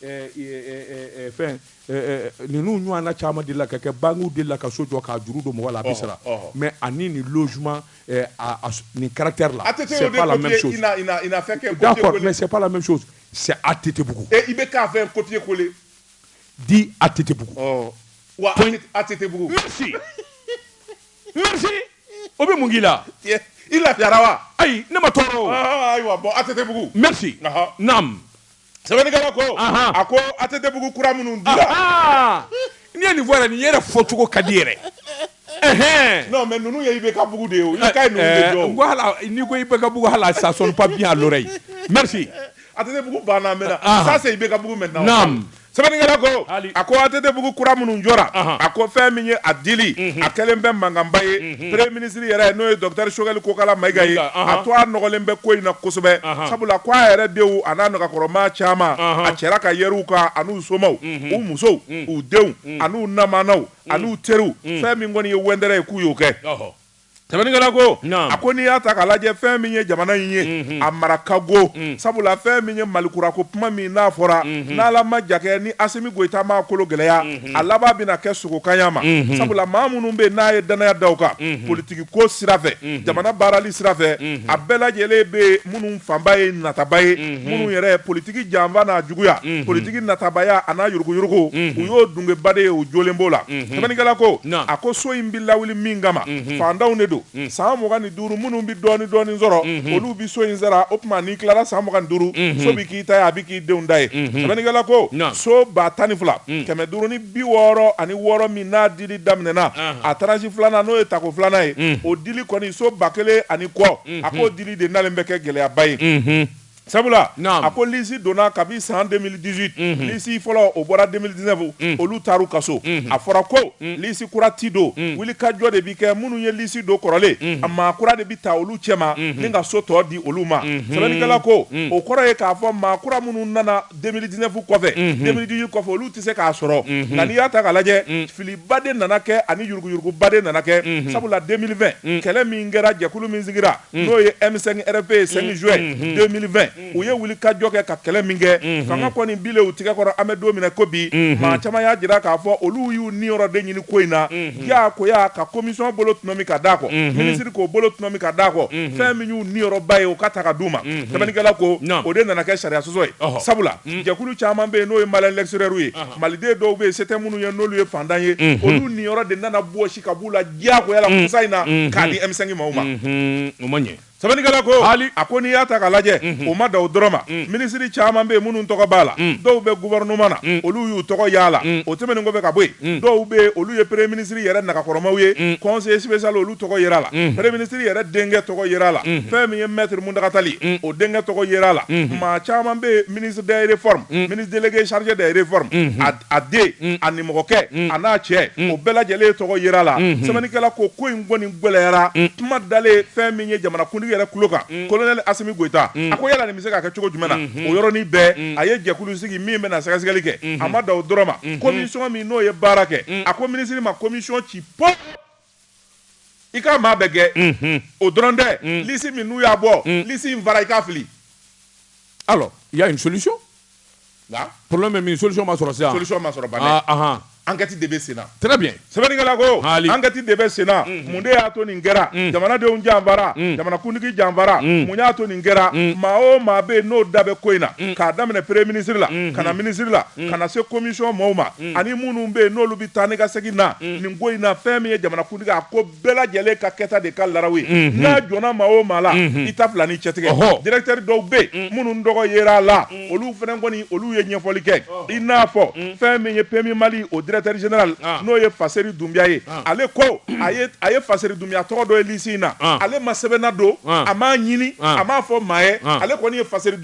Fɛn ninnu ɲɔgɔn na caman dilan ka kɛ bankiw de la ka so jɔ k'a juru don mɔgɔ la a bɛ sara mais ani nin logement nin caractère là ATT bugu ATT bugu IBK a fait copier-coller dis ATT bugu wa ATT bugu o bɛ mun k'i la i lafiyara wa ayi ne ma tɔɔrɔ ayiwa ATT bugu sɛbɛnnikɛla ko Ahan. a ko ATTbugu kura minnu dira Ahaa! n'i ye nin voilà nin yɛrɛ fɔcogo ka di yɛrɛ Ɛhɛn. non mais ninnu ye IBK-bugu de ye o IBK ye ninnu de Eh, jɔ o. n ko hala- n'i ko IBK-bugu hala ça sonne pas bien à l'oreille. Merci. ATTbugu banna maintenant Ahan. ça c'est IBK-bugu maintenant Naam. sɛbɛnnikɛla ko a ko ATTbugu kura minnu jɔra Ahan. a ko fɛn min ye a dili a kɛlen bɛ mankanba ye premier minisiri yɛrɛ n'o ye docteur Choguel Kokala Maïga ye a to a nɔgɔlen bɛ ko in na kosɛbɛ sabula ko a yɛrɛ denw a n'a nagakɔrɔmaa caman a cɛra k'a yɛrɛ u kan an'u somaw u musow u denw an'u namanaw an'u teriw fɛn min kɔni ye wɛndɛrɛ ye k'u y'o kɛ sɛbɛnnikɛla ko a ko n'i y'a ta k'a lajɛ fɛn min ye jamana in ye a mara ka go sabula fɛn min ye malikura ko kuma min n'a fɔra n'Ala ma ja kɛ ni Asimi Goyita m'a kolo gɛlɛya a laban bɛna kɛ sogokanya ma sabula maa minnu bɛ yen n'a ye dannaya da u kan politigi ko sira fɛ jamana baarali sira fɛ a bɛɛ lajɛlen bɛ minnu fanba ye nataba ye minnu yɛrɛ politigi janfa n'a juguya politigi natabaya a n'a yuruguyurugu u y'o dungeba de ye u jolen b'o la sɛbɛnnikɛla ko a ko so in bɛ lawuli min kama fantanw de don san mugan ni duuru minnu bɛ dɔɔni dɔɔni sɔrɔ olu bɛ so in sara o tuma n'i tilara san mugan ni duuru so bɛ k'i ta ye a bɛ k'i denw ta ye sɛbɛnnikɛla ko so ba tan ni fila kɛmɛ duuru ni bi wɔɔrɔ ani wɔɔrɔ min n'a dili daminɛna a tranche filanan n'o ye tako filanan ye o dili kɔni so ba kelen ani kɔ a k'o dili de nalen bɛ kɛ gɛlɛyaba ye. Sabula a ko lisi donna kabi san 2018 lisi fɔlɔ o bɔra 2019 olu taara u ka so a fɔra ko lisi kura tɛ don wuli ka jɔ de bɛ kɛ minnu ye lisi don kɔrɔlen a maa kura de bɛ ta olu cɛ ma ni ka so tɔ di olu ma sɛbɛnnikɛla ko o kɔrɔ ye k'a fɔ maa kura minnu nana 2019 kɔfɛ 2018 kɔfɛ olu tɛ se k'a sɔrɔ nka n'i y'a ta k'a lajɛ filiba de nana kɛ ani yuruguyuruguba de nana kɛ sabula 2020 kɛlɛ min kɛra jɛkulu min sigira n'o ye M5 RFP ye 5 juin 2020 u ye wuli ka jɔ kɛ ka kɛlɛ min kɛ fanga kɔni bile u tigɛ kɔrɔ an bɛ don min na i ko bi maa caman y'a jira k'a fɔ olu y'u niyɔrɔ de ɲini ko in na diyagoya ka komisiyɔn bolo tɔnɔmi ka d'a kɔ minisiri k'o bolo tɔnɔmi ka d'a kɔ fɛn min y'u niyɔrɔba ye o ka ta ka d'u ma sɛbɛnnikɛla ko o de nana kɛ sariyasɔsɔ ye sabula jɛkulu caman bɛ yen n'o ye Maliens de l'extérieur ye maliden dɔw bɛ yen se tɛ minnu ye n'olu ye fantan ye olu niyɔrɔ de nana bɔsi ka b'u la diyagoya la kɔsa in na k'a di M5 maaw ma o ma ɲɛ sɛbɛnnikɛla ko hali a ko n'i y'a ta k'a lajɛ o ma da o dɔrɔn ma minisiri caman bɛ yen minnu tɔgɔ b'a la dɔw bɛ gouvernement na olu y'u tɔgɔ y'a la o tɛmɛnen kɔfɛ ka bɔ yen dɔw bɛ yen olu ye premier minisiri yɛrɛ nagakɔrɔmaw ye conseiller spécial olu tɔgɔ yer'a la premier minisiri yɛrɛ denkɛ tɔgɔ yer'a la fɛn min ye maître Mountaga Tall o denkɛ tɔgɔ yer'a la maa caman bɛ yen ministre des réformes ministre délégué chargé des réformes a den mm. a nimɔgɔkɛ mm. a n'a cɛ mm. o bɛɛ lajɛlen tɔgɔ yera a la mm-hmm. sɛbɛnnikɛla ko ko in kɔni gwɛlɛyara kuma dalen fɛn min ye jamanakuntigi yɛrɛ kulo kan kolonɛli asimi goyita a ko yala nin bɛ se ka kɛ cogo jumɛn na mm-hmm. o yɔrɔnin bɛɛ a ye jɛkulu sigi min bɛna sɛgɛsɛgɛli kɛ mm-hmm. a ma dan o dɔrɔn ma komisɔn min n'o ye baara kɛ a ko minisiri ma komisɔn ci pɔ i ka maa bɛɛ gɛn o dɔrɔn tɛ lisi min n'u y'a bɔ lisi in fara i k'a fili alors il y a une solution nka problème bɛ min solution ma sɔrɔ sisan solution ma sɔrɔ ban ɛ ah, ah, ah. ankɛti de bɛ sen na très bien sɛbɛnnikɛla ko ankɛti de bɛ sen na mun de y'a to nin kɛra jamanadenw janfara jamanakuntigi janfara mun y'a to nin kɛra maa o maa bɛ yen n'o da bɛ ko in na k'a daminɛ premier ministre la ka na ministre la ka na se commission mɔɔw ma ani minnu bɛ yen n'olu bɛ taa ni ka segin na nin ko in na fɛn min ye jamanakuntigi a ko bɛɛ lajɛlen ka kɛta de ka laraw ye n'a jɔnna maa o maa la i ta fila ni cɛtigɛ directeur dɔw bɛ yen minnu tɔgɔ yera a la olu fana kɔni olu ye ɲɛfɔli kɛ i n'a fɔ fɛn min ye PMU mali o directeur général n'o ye faseri dunbiya ye ale ko a ye faseri dunbiya tɔgɔ dɔ ye lisi in na ale ma sɛbɛn ladon a m'a ɲini a m'a fɔ maa ye ale kɔni ye faseri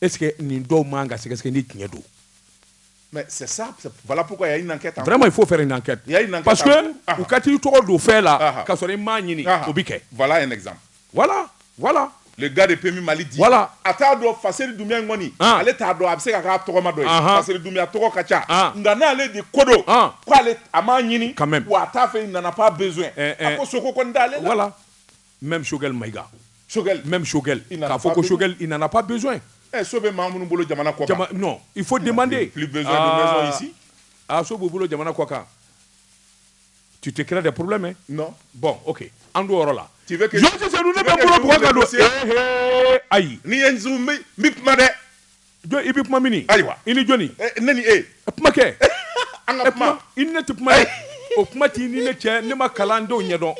e nin dɔw man ka sɛgɛsɛ ni tiɲɛ don ma fo fɛ u ka t'i tɔgɔ don fɛn la ka sɔrɔ i ma ɲini o bɛ kɛ gari pe mali wala a t'a dɔn fa seli dun kɔni ale t'a dɔn a bɛ se ka' tɔgɔma don a seli dunya tɔgɔ ka ca nka n'ale de kodɔn k' a ma ɲini ka a t'a fɛ nana' bɛ ko sogo dalen wala même Choguel Maïga même Choguel k'a fɔ ko Choguel il n'en a pas besoin eh, so bɛ maa minnu bolo jamana kɔ kan non il faut demander plus besoin de maison ah. ici a ah, so b'u bolo jamana kɔ kan tu te crées des problèmes hein? non bon ok an t'o yɔrɔ la tu veux que Georges Senu ne bɛ n bolo bugɔ ka don eh, eh, ayi n'i ye n su n bi kuma dɛ Jɔn i bɛ kuma min ni? Ayiwa. I ni jɔni? Ɛ ne ni e. Kuma kɛ. An ka kuma. I ni ne tɛ kuma dɛ. O kuma t'i ni ne cɛ ne ma kalan n t'o ɲɛdɔn.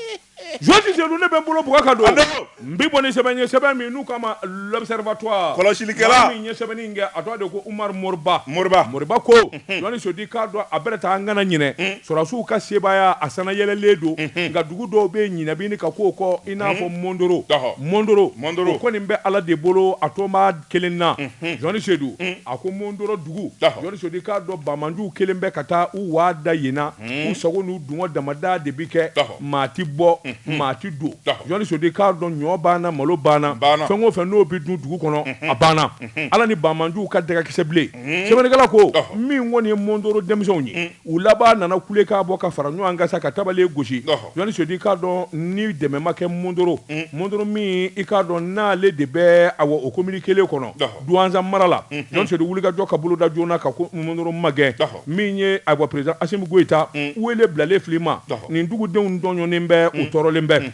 Jɔn tɛ jɛn don ne bɛ n bolo bugɔ ka don. A dɔn ko. N b'i bon ni sɛbɛn ye sɛbɛn min n'u k'a ma l'observatoire. Kɔlɔsilikɛla. Maa min ye sɛbɛnni in kɛ a tɔgɔ de ye ko Umaru Moriba. Moriba. Moriba ko. Unhun. Jɔni Sedu k'a dɔn a bɛrɛ tɛ an kana ɲinɛ. Un. Sɔrɔdasiw ka sebaaya a sanayɛlɛlen don. Unhun. Nka dugu dɔw bɛ yen ɲinɛ bi ɲini ka k'o kɔ i n'a fɔ Mɔndoro. Ɔhɔ. Mɔndoro. Mɔndoro. O kɔni bɛ Ala de bolo a tolen b'a kelen na jɔni sedu a ko mɔndɔrɔ dugu jɔni sedu k'a dɔn banbaanciw kelen bɛ ka taa u waa da yenna u sago n'u dungɔ damada de bɛ kɛ maa tɛ bɔ maa tɛ don jɔni sedu k'a dɔn ɲɔ banna malo banna fɛn o fɛ n'o bɛ dun dugu kɔnɔ a banna ala ni banbaanciw ka dagakisɛbilen sɛbɛnnikɛla ko min kɔni ye mɔndɔrɔ denmisɛnw ye U laban nana kule ka bɔ ka fara ɲɔgɔn kan sa ka tabale gosi Jɔni Sedu i k'a dɔn ni dɛmɛ ma kɛ Mondoro Mondoro min i k'a dɔn n'ale de bɛ awɔ o komini kelen kɔnɔ Duwanza mara la Jɔni Sedu wulikajɔ ka boloda joona ka ko Mondoro magɛn min ye awɔ président Asimi Goyita wele bilalen fil'i ma nin dugudenw tɔɲɔnen bɛ u tɔɔrɔlen bɛ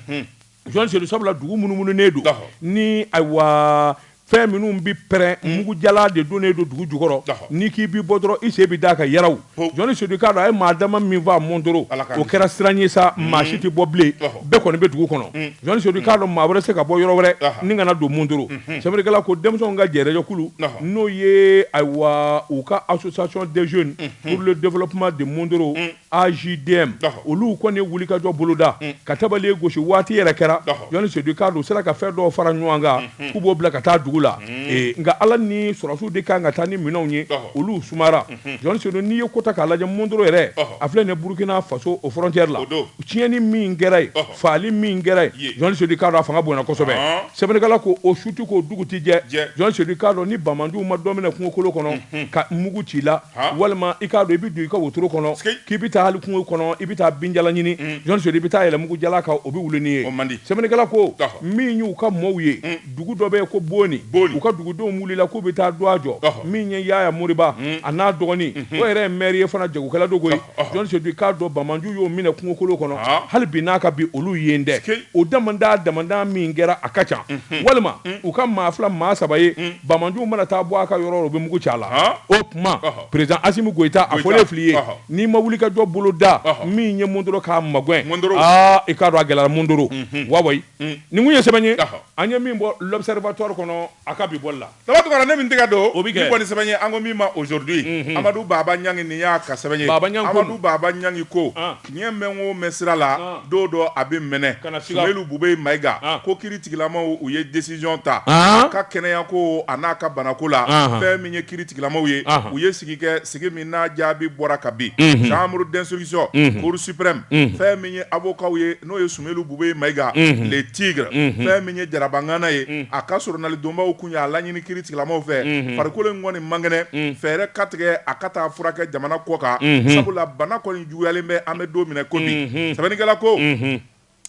Jɔni Sedu sabula dugu munumununen don ni ayiwa fɛn minnu bɛ pɛrɛn mugujala de donnen don dugu jukɔrɔ n'i k'i bɛ bɔ dɔrɔn i sen bɛ d'a kan yaw Jɔni Sedu i k'a dɔn a ye maa dama min faa Mondoro o kɛra siran ye sa maa si tɛ bɔ bilen bɛɛ kɔni bɛ dugu kɔnɔ Jɔni Sedu i k'a dɔn maa wɛrɛ tɛ se ka bɔ yɔrɔ wɛrɛ ni ka na don Mondoro sɛbɛnnikɛla ko denmisɛnw ka jɛkulu n'o ye ayiwa u ka association des jeunes pour le développement de Mondoro AJDM ɔhɔ olu kɔni ye wulikajɔ boloda un ka tabale gosi waati yɛrɛ kɛra ɔhɔ Jɔni Sedu i k'a dɔn u sera ka fɛn dɔw fara ɲɔgɔn kan unhun k'u b'o bila ka taa dugu la un ee nka Ala ni sɔrɔdasiw de ka kan ka taa ni minɛnw ye ɔhɔ olu sumayara unhun Jɔni Sedu n'i ye ko ta k'a lajɛ Mondoro yɛrɛ ɔhɔ a filɛ ni Burukina Faso o frontière la o don tiɲɛni min kɛra yen ɔhɔ faali min kɛra yen Jɔni Sedu i k'a dɔn a fanga bonyana kosɛbɛ sɛbɛnnikɛla ko o su tɛ ko dugu tɛ jɛ Jɔni Sedu i k'a dɔn ni banbaanciw ma dɔ minɛ kungokolo kɔnɔ ka mugu ci la walima i k'a dɔn i bɛ don i ka wotoro kɔnɔ k'i bɛ taa hali kungo kɔnɔ i bɛ taa binjalan ɲini Jɔni Sedu i bɛ taa yɛlɛn mugujala kan o bɛ wuli n'i ye sɛbɛnnikɛla ko min y'u ka mɔɔw ye Dugu dɔ bɛ ko Boni, Boni, u ka dugudenw wulila k'u bɛ taa dɔgɔ jɔ, ɔhɔ, min ye Yaya Moriba, un, a n'a dɔgɔnin, unhun, o yɛrɛ ye maire ye fana jagokɛla don koyi, ɔhɔ, Jɔni Sedu i k'a dɔn banbaanciw y'o minɛ kungokolo kɔnɔ, haa, hali bi n'a ka bi olu ye n dɛ, sikei, o damandaa damandaa min kɛra a ka ca, unhun, walima, un, u ka maa fila maa saba ye, un, banbaanciw mana taa bɔ a ka yɔrɔ o yɔrɔ u bɛ mugu ci a la, haa, o tuma, ɔhɔ, président Asimi Goyita a fɔlen fil'i ye, ɔhɔ, n'i ma wulikajɔ boloda, ɔhɔ, min ye Mondoro k'a magɛn, Mondoro, aa i k'a dɔn a gɛlɛyara Mondoro, unhun, wawa Nin kun ye sɛbɛn ye an ye min bɔ l'Observatoire kɔnɔ a ka bi bɔ la saba ne min tɛgɛ don o bɛ kɛ sɛbɛn ye an ko min ma Aujourd'hui amadu baba ɲangi nin y'a ka sɛbɛn ye amadu baba ɲangi ko tiɲɛ mɛn o mɛn sira la don dɔ a bɛ mɛnɛ Sumeyilu Bubɛyi Mayiga ko kiritigɛlamaw u ye décision ta a ka kɛnɛya ko an'a ka banako la fɛn min ye kiritigɛlamaw ye u ye sigi kɛ sigi min n'a jaabi bɔra kabi chambre d'instruction cour suprême fɛn min ye avocatw ye n'o Sumeyilu Bubɛyi Mayiga le tigre fɛn min ye jaraba ŋana ye a ka soronadonbaw tun y'a laɲini kiritigɛlamaw fɛ farikolo in kɔni man kɛnɛ fɛɛrɛ ka tigɛ a ka taa furakɛ jamana kɔkan sabula bana kɔni juguyalen bɛ an bɛ don min na komi sɛbɛnnikɛla ko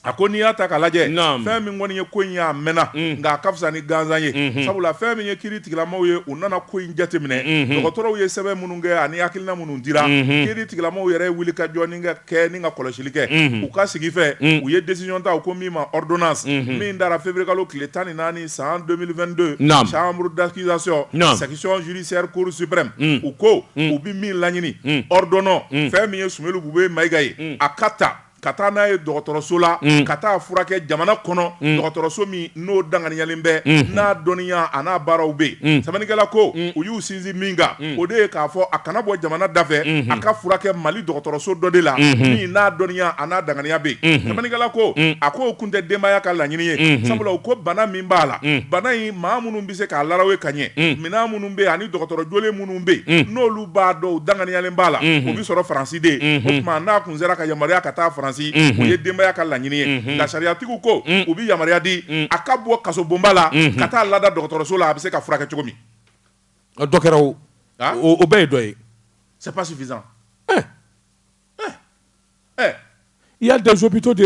a ko n'i y'a ta ka lajɛ fɛn min kɔni ye ko in ye a mɛnna nka a ka fisa ni gansan ye sabula fɛn min ye kiritigɛlamaw ye u nana ko in jateminɛ dɔgɔtɔrɔw ye sɛbɛn minnu kɛ ani hakilina minnu dira kiritigɛlamaw yɛrɛ wuli ka jɔn kɛ kɛ ni ka kɔlɔsili kɛ u ka sigi fɛ u ye desiyɔn ta ko min ma dɔn min taara fɛnbririkalo tile tan ni naani san donbidon samuru dakizsɔn sagisonɔnurusɛri kurusipme u ko u bɛ min laɲini dɔn fɛn min ye sunjata u bɛ mayika ye a ka ta ka taa n'a ye dɔgɔtɔrɔso la ka taa furakɛ jamana kɔnɔ dɔgɔtɔrɔso min n'o danganiyalen bɛ n'a dɔnniya a n'a baaraw bɛ yen sɛbɛnnikɛla ko u y'u sinsin min kan o de ye k'a fɔ a kana bɔ jamana dafɛ a ka furakɛ mali dɔgɔtɔrɔso dɔ de la min n'a dɔnniya a n'a danganiya bɛ yen sɛbɛnnikɛla ko a ko o kun tɛ denbaya ka laɲini ye sabula u ko bana min b'a la bana in maa minnu bɛ se k'a larawe ka ɲɛ minɛn minnu bɛ ani dɔgɔtɔrɔ jolen minnu bɛ yen n'olu b'a dɔn danganiyalen b'a la o bɛ sɔrɔ faransi de ye o tuma n'a sera ka yamaruya ka taa faransi o ye denbaya ka laɲini ye la sariyatigiw ko u bɛ yamaruya di a ka bɔ kaso bonba la ka taa lada dɔgɔtɔrɔso la a bɛ se ka furakɛ cogo min dɔ kɛra o bɛɛ ye dɔ ye c'est pas suffisant il y a des hôpitaux de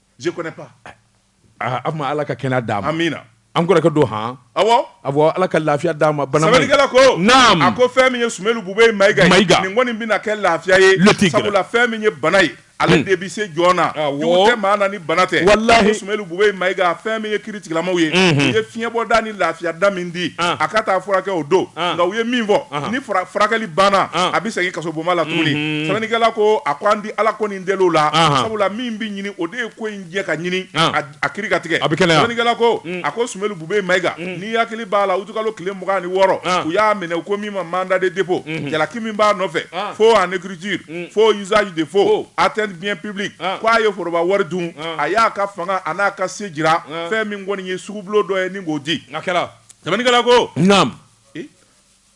ma ala ka kɛnɛya d'a ma amiina an kɔrɔkɛ don han ala ka lafiya d'a ma sɛbɛnnikɛla ko a ko fɛn min ye Sumelu Bube Mayiga kɔni bɛna kɛ lafiya ye fɛn min ye bana ye ale de bɛ se jɔn na jugu tɛ maa na ni bana tɛ Sumelu Bube Mayiga fɛn min ye kiiri tigilamaw ye u ye fiɲɛbɔda ni lafiya da min di a ka taa furakɛ o don nka u ye min fɔ ni furakɛli banna a bɛ segin kaso bonba la tuguni sɛbɛnnikɛla ko a ko an di ala deliw la Ahan. sabula min bɛ ɲini o de ye ko in ɲɛ ka ɲini Ahan. a- a kiiri ka tigɛ A bɛ kɛnɛya. Sɛbɛnnikɛla ko a ko Sumelu Bube Mayiga n'i hakili b'a la utukalo tile mugan ni wɔɔrɔ Ahan. u y'a minɛ ko min ma mandat de dépôt jalaki min b'a nɔfɛ Ahan. faux en écriture faux usage de faux Faux. atteinte bien public Ahan. ko a ye foroba wari dun Ahan. a y'a ka fanga a n'a ka se jira Ahan. fɛn min kɔni ye sugubulo dɔ ye ni k'o di a kɛra Sɛbɛnnikɛla ko naam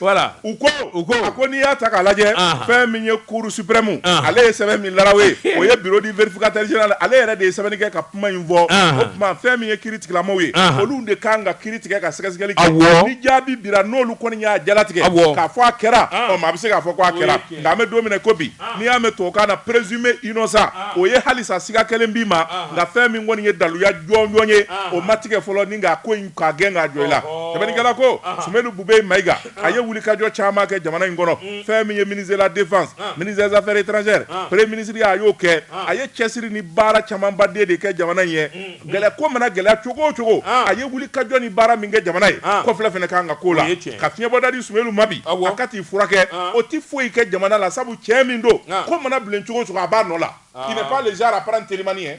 Voilà u ko u ko a ko n'i y'a ta k'a lajɛ anhan fɛn min ye cour suprême anhan ale ye sɛbɛn min larawe o ye bureau du vérificateur général ale yɛrɛ de ye sɛbɛnni kɛ ka kuma in fɔ anhan o tuma fɛn min ye kiiri tigilamaw ye anhan olu de kan ka kiiri tigɛ ka sɛgɛsɛgɛli kɛ awɔ ni jaabi dira n'olu kɔni y'a jalatigɛ awɔ k'a fɔ a kɛra ɔ maa bɛ se k'a fɔ ko a kɛra nka an bɛ don min na ko bi n'i y'a mɛ tubabukan na présumé innocent o ye halisa siga kɛlen b'i ma nka fɛn min kɔni ye daluya jɔnjɔn ye o ma tigɛ fɔlɔ ni k'a ko in k'a gɛn k'a jɔ i la sɛbɛnnikɛla ko Sumelu Bube Mayiga a ye wulikajɔ caman kɛ jamana in kɔnɔ fɛn min ye ministre de la défense ministre des affaires étrangères premier ministre ye a y'o kɛ a ye cɛsiri ni baara camanba de de kɛ jamana in ye gɛlɛ ko mana gɛlɛya cogo o cogo a ye wulikajɔ ni baara min kɛ jamana ye kɔfilɛ fana ka kan ka k'o la ka fiɲɛbɔda di Sumelu ma bi a ka t'i furakɛ o tɛ foyi kɛ jamana la sabu cɛ min don ko mana bilen cogo o cogo a b'a nɔ la il n'est pas le genre à prendre telimani hein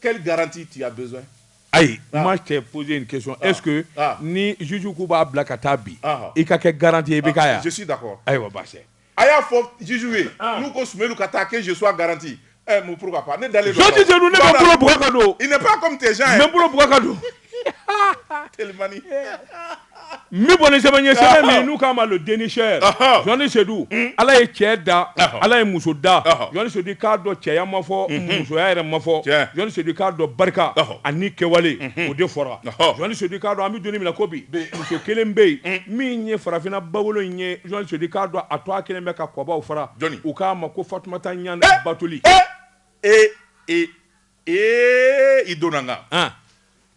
Quelle garantie tu as besoin? Ayi moi je t'ai posé une question est ce que ni juge k'u b'a bila ka taa bi i ka kɛ garantie ye i bɛ k'a ye wa? Je suis d'accord ayiwa baasi tɛ. A y'a fɔ juge ye n'u ko Soumeylou ka taa que je sois garantie ɛɛ mun pourquoi pas ne dalen don a la o. Jɔn tɛ se nin ye ne bɛ n bolo bugɔ ka don o. Il n'est pas comme tes gens mais n bolo bugɔ ka don. telimani n bɛ bɔ ni sɛbɛn ye sɛbɛn min n'u k'a ma le dénicheur Jɔni Sedu ala ye cɛ da ala ye muso da Jɔni Sedu i k'a dɔn cɛya ma fɔ musoya yɛrɛ ma fɔ Jɔni Sedu i k'a dɔn barika ani kɛwale o de fɔra Jɔni Sedu i k'a dɔn an bɛ donni min na ko bi muso kelen bɛ yen min ye farafinna bawolo in ye Jɔni Sedu i k'a dɔn a tɔgɔ kelen bɛ ka kɔbaw fara u k'a ma ko Fatumata Ɲane Batuli. ee i donna n kan ah,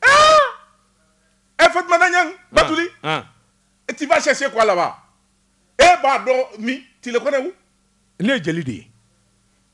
ɛ Eh, fatumata ɲang batuli ah. tu vas chercher quoi là-bas e b'a dɔn min tu le connais où ne ye jeli de ye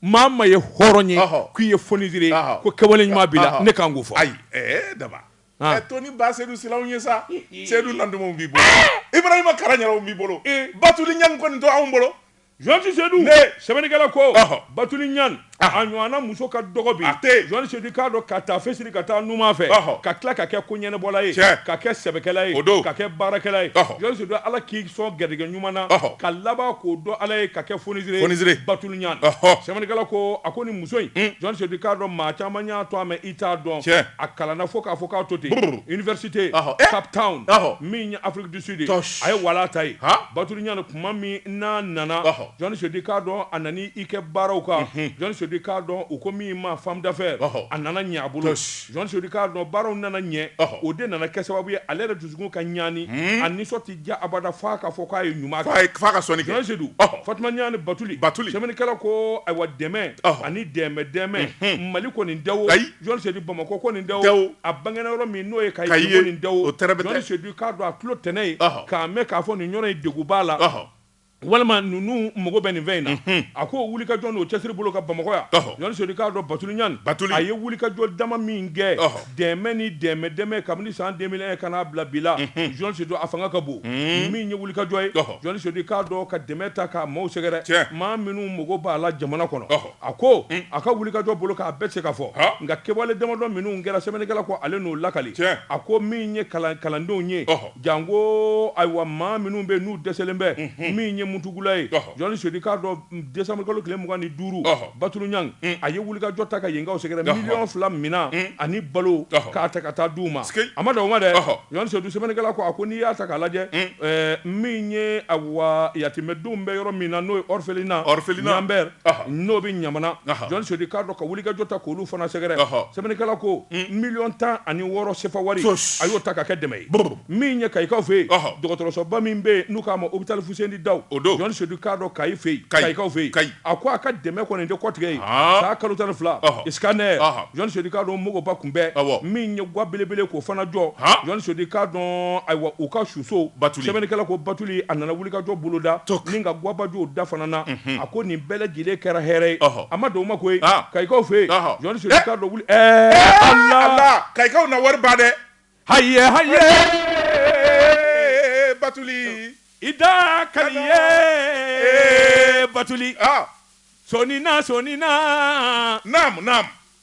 mama ye hɔrɔn ye Ɔhɔ. k'i ye fonisire ye Ɔhɔ. ko kɛwale ɲuman b'i la Ɔhɔ. ne kan k'o fɔ ayi ee daba Ah. e to ni ba sedu silaw ye sa sedu nandumaw b'i bolo ibrahima karaɲaraw b'i bolo batuli ɲang kɔni to anw bolo Jɔni sedu sɛbɛnnikɛla ko batuli ɲane a ɲɔgɔnna muso ka dɔgɔ bi jɔni sedu i k'a dɔn ka taa fɛsiri ka taa numan fɛ ka tila ka kɛ koɲɛnabɔla ye ka kɛ sɛbɛkɛla ye o don ka kɛ baarakɛla ye jɔni sedu ala k'i sɔn garijɛgɛ ɲuman na ka laban k'o dɔn ala ye ka kɛ fonisire batuli ɲane sɛbɛnnikɛla ko a ko nin muso in jɔni sedu i k'a dɔn maa caman y'a tɔgɔ mɛn i t'a dɔn a kalanna fo k'a fɔ k'a to ten université Cape Town min ye Afrique du Sud a ye wala ta yen batuli kuma min n'a nana jɔni sedu i k'a dɔn a nana i kɛ baaraw kan jɔni sedu i k'a dɔn u ko min ma femme d'affaires a nana ɲɛ a bolo jɔni sedu i k'a dɔn baaraw nana ɲɛ o de nana kɛ sababu ye ale yɛrɛ dusukun ka ɲi ani a nisɔn tɛ diya abada f'a k'a fɔ k'a ye ɲuman kɛ f'a ka sɔnni kɛ jɔni sedu fatuma ɲane batuli sɛbɛnnikɛla ko ayiwa dɛmɛ ani dɛmɛ dɛmɛ mali kɔni da o Jɔni sedu bamakɔ kɔni da o a bangenna yɔrɔ min n'o ye kayi kɔni da o jɔni sedu i k'a dɔn a tulo tɛnɛ ye k'a mɛn k'a fɔ nin yɔrɔ in dɛgun b'a la walima ninnu mago bɛ nin fɛn in na a ko wulikajɔ n'o cɛsiri bolo ka bamakɔ yan jɔni sedu i k'a dɔn batuli ɲane a ye wulikajɔ dama min kɛ dɛmɛ ni dɛmɛ dɛmɛ kabini san deux mille un ka n'a bila bi la jɔni sedu a fanga ka bon min ye wulikajɔ ye jɔni sedu i k'a dɔn ka dɛmɛ ta ka maaw sɛgɛrɛ maa minnu mago b'a la jamana kɔnɔ A ko a ka wulikajɔ bolo k'a bɛɛ tɛ se ka fɔ nka kɛwale damadɔ minnu kɛra sɛbɛnnikɛla ko ale n'o lakali a ko min ye kalandenw ye janko ayiwa maa minnu bɛ n'u dɛsɛlen bɛ min ye mutugula ye jɔni sedu i k'a dɔn décembre kalo tile mugan ni duuru batuli ɲane a ye wulikajɔ ta ka yenkaw sɛgɛrɛ miliyɔn fila minɛn ani balo k'a ta ka taa di u ma a ma dan o ma dɛ jɔni sedu sɛbɛnnikɛla ko a ko n'i y'a ta k'a lajɛ min ye awa yatimɛdenw bɛ yɔrɔ min na n'o ye orphelinat n'o bɛ ɲamana jɔn sedu k'a dɔn ka wulikajɔ ta k'olu fana sɛgɛrɛ sɛbɛnnikɛla ko miliyɔn tan ani wɔɔrɔ sefa wari a y'o ta ka kɛ dɛmɛ ye min ye kayikaw fɛ yen dɔgɔtɔrɔsoba min bɛ yen n'u k'a ma hôpital fuseni dawu jɔn sedu k'a dɔn kayi fɛ yen kayikaw fɛ yen a ko a ka dɛmɛ kɔni tɛ kɔtigɛ yen san kalo tan ni fila scanner jɔn sedu k'a dɔn mɔgɔba kunbɛn min ye ga belebele k'o fana jɔ jɔn sedu k'a dɔn ayiwa u ka suso bat sɛbɛnnikɛla ko batu a nana wulikajɔ boloda nin ka gabajɔ da fana na a ko nin bɛɛ lajɛlen kɛra hɛrɛ ye a ma dan o ma koyi kayikaw fɛ yen kayikaw na wariba dɛ ha ha batuli i da ka batuli sɔɔni na sɔɔni na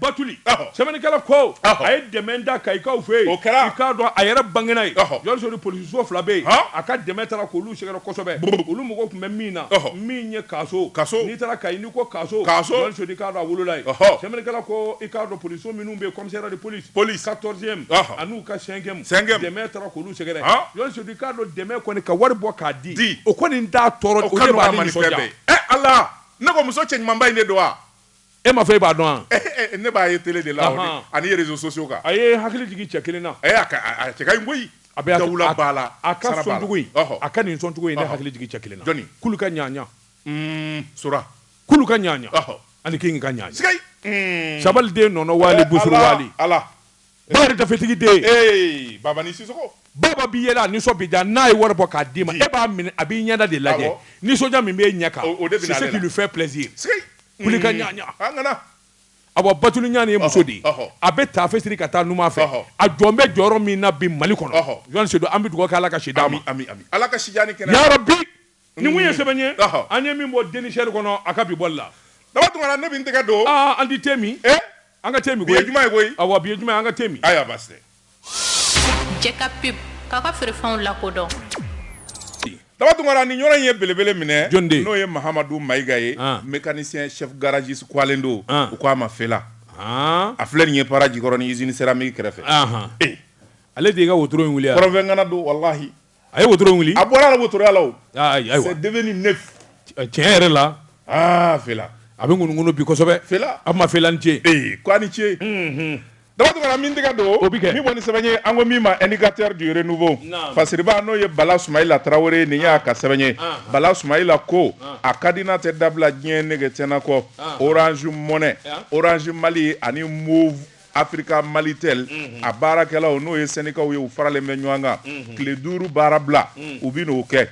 batuli sɛbɛnnikɛla ko a ye dɛmɛ da kayikaw fɛ yen o kɛra i k'a dɔn a yɛrɛ bangena yen jɔn sedu polisiso fila bɛ yen a ka dɛmɛ taara k'olu sɛgɛrɛ kosɛbɛ olu mago tun bɛ min na min ye kaso kaso n'i taara kayi n'i ko kaso kaso jɔn sedu k'a dɔn a wolola yen sɛbɛnnikɛla ko i k'a dɔn polisiso minnu bɛ yen commissariat de police police quatorzième an'u ka cinquième cinquième dɛmɛ taara k'olu sɛgɛrɛ jɔn sedu k'a dɔn dɛmɛ kɔni ka wari bɔ k'a di o kɔni t'a tɔɔrɔ o ka nɔgɔ a ma ni fɛn bɛɛ ye ɛ Ala ne ko muso cɛ ɲumanba in de don wa e ma fɔ e b'a dɔn wa eh, eh, eh, ne b'a ye télé de la ani réseaux sociaux kan a ye hakili jigin cɛ kelen na a cɛ ka ɲi koyi a bɛ dawula b'a la a ka sɔncogo in a ka nin sɔncogo in ne hakili jigin cɛ kelen na jɔni kulu ka ɲaɲa hmm, sora kulu ka ɲaɲa ani kingi ka ɲaɲa sigai hmm. sabaliden nɔnɔ waali busuru waali ala ba yɛrɛ dafetigi den ee babani sisɔkɔ baba b'i yɛlɛ a nisɔn bi diya n'a ye wari bɔ k'a d'i ma e b'a minɛ a b'i ɲɛda de lajɛ nisɔndiya min b'e ɲɛ kan c'est ce qui lui fait plaisir kulu ka ɲaɲa awa batuli ɲanɛ ye muso de a bɛ taafe siri ka taa numan fɛ a jɔlen bɛ jɔyɔrɔ min na bi mali kɔnɔ jɔn sedu an bɛ dugawu kɛ ala ka si d'a ma yarabi Nin kun ye sɛbɛn ye, ɔhɔ, an ye min bɔ dénicheur kɔnɔ a ka bi bɔli la. Daba Tunkara ne bɛ n tɛgɛ don. Aa an tɛ tɛmɛ. E! An ka tɛmɛ koyi. Bi ye juma ye koyi. Awɔ bi ye juma ye an ka tɛmɛ. Ayiwa baasi tɛ. Jɛ ka pub k'aw ka feerefɛnw lakodɔn. Daba Tunkara nin yɔrɔ in ye belebele minɛ. Jɔni don? N'o ye Mahamadu Mayiga ye, an, mekanisiyɛn chef garagiste kuwalen don, an, u ko a ma Fela. Haan! A filɛ nin ye Para jikɔrɔni usine céramique kɛrɛfɛ. Anhan! E! Ale de ye i ka wotoro in wuli wa? Kɔrɔnfɛ ŋana don walahi. a ye wotoro wuli a bɔra la wotoroya la c'est devenu neuf tiɲɛ yɛrɛ la a fela a bɛ ŋunuŋunu bi kosɛbɛ fela a ma fela ni ce ko a ni ce daba tunkara min tɛgɛ don o bɛ kɛ min bɔ ni sɛbɛn ye an ko min ma indicateur du renouveau fasiriba n'o ye bala sumayila tarawele nin y'a ka sɛbɛn ye bala sumayila ko a ka di n'a tɛ dabila diɲɛ nege tɛna kɔ Orange Money Orange Mali ani Africa Malitel a baarakɛlaw n'o ye sɛndikaw ye u faralen bɛ ɲɔgɔn kan tile duuru baara bila u bɛ n'o kɛ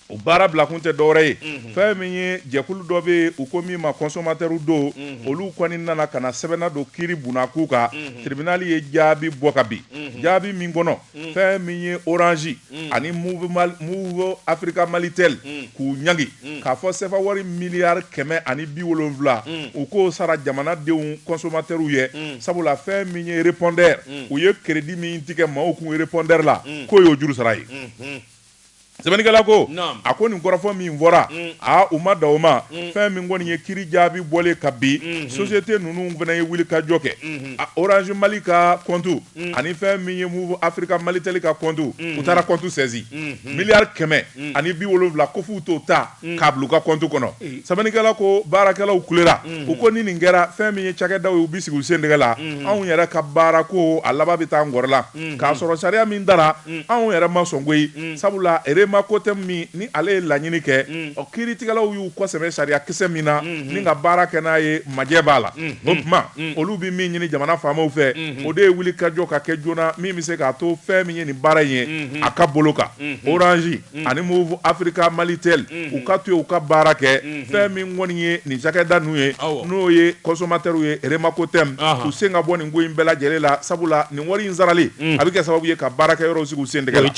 o baara bila kun tɛ dɔwɛrɛ ye fɛn min ye jɛkulu dɔ bɛ yen u ko min ma consommateurs don olu kɔni nana ka na sɛbɛn nadon kiri bunda k'u kan tribunal ye jaabi bɔ ka bin jaabi min kɔnɔ fɛn min ye orange ani Moov Africa Malitel k'u ɲangi k'a fɔ CFA wari miliyari kɛmɛ ani bi wolonwula u k'o sara jamanadenw consommateurs ye sabula fɛn min ye répondeur u ye crédit min tigɛ maaw kun répondeur la k'o y'o juru sara ye. sɛbɛnnikɛla ko a ko nin kɔrɔfɔ min fɔra mm. aa u ma da o ma mm. fɛn min kɔni ye kiri jaabi bɔlen ka bin mm-hmm. société ninnu fana ye wuli ka jɔ kɛ mm-hmm. orange mali ka kɔntu mm. ani fɛn min ye Moov Africa Malitel ka kɔntu mm-hmm. u taara kɔntu sɛzi miliyari kɛmɛ ani bi wolonwula ko f'u t'o ta k'a bila u ka compte kɔnɔ, ee, sɛbɛnnikɛla ko baarakɛlaw kulera, unhun, u ko ni nin kɛra fɛn min ye cakɛdaw ye u bɛ sigi u sen tɛgɛ la, unhun, anw yɛrɛ ka baara ko a laban bɛ taa nkɔrɔ la, unhun, k'a sɔrɔ sariya min dara anw yɛrɛ ma sɔn koyi, unhun, sabula REMACOTEM min ni ale ye laɲini kɛ, unhun, ɔ kiiritigɛlaw y'u kɔsɛmɛ sariya kisɛ min na, unhun, ni ka baara kɛ n'a ye majɛ b'a la, unhun, o tuma olu bɛ min ɲini jamana faamaw fɛ, unhun, o de ye wulikajɔ ka kɛ joona min bɛ se k'a to fɛn min ye nin baara in ye, unhun, a ka bolo kan, unhun, orange ani Moov Africa Malitel u ka to yen u ka baara kɛ fɛn min kɔni ye nin cakɛda ninnu ye n'o ye kɔnsɔmatɛriw ye REMACOTEM u sen ka bɔ nin ko in bɛɛ lajɛlen la sabula nin wari in sarali a bɛ kɛ sababu ye ka baarakɛyɔrɔw sigi u sen tɛgɛ la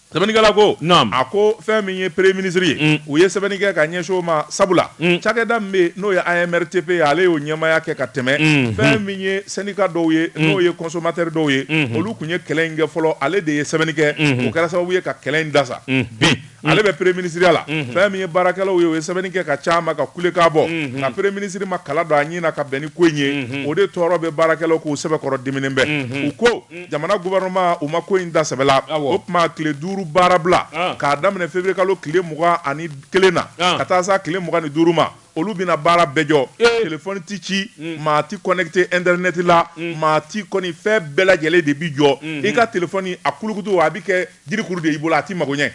sɛbɛnnikɛla ko a ko fɛn min ye premier ministre ye u ye sɛbɛnni kɛ ka ɲɛsin o ma sabula cakɛda min bɛ n'o ye AMRTP ye ale y'o ɲɛmaaya kɛ ka tɛmɛ fɛn min ye sɛndika dɔw ye mm. n'o ye kɔnsɔmatɛri dɔw ye mm-hmm. olu tun ye kɛlɛ in kɛ fɔlɔ ale de ye sɛbɛnni kɛ mm-hmm. o kɛra sababu ye ka kɛlɛ in dasa mm-hmm. bi ale bɛ premier minisiriya la fɛn min ye baarakɛlaw ye o ye sɛbɛnni kɛ ka c'a ma ka kule k'a bɔ nka premier ministre ma kala don a ɲɛ na ka bɛn ni ko in ye o de tɔɔrɔ bɛ baarakɛlaw k'u sɛbɛkɔrɔ diminen bɛ u ko jamana gouvernement u ma ko in ta sɛbɛ la o tuma tile duuru baarabila ah. k'a daminɛ février kalo tile mugan ani kelen na ah. ka taa s'a tile mugan ni duuru ma Olu bɛna baara bɛɛ jɔ téléphone tɛ ci maa tɛ connecté internet la maa tɛ kɔni fɛn bɛɛ lajɛlen de bɛ jɔ i ka téléphone a kulukutu a bɛ kɛ jirikuru de y'i bolo a tɛ mago ɲɛ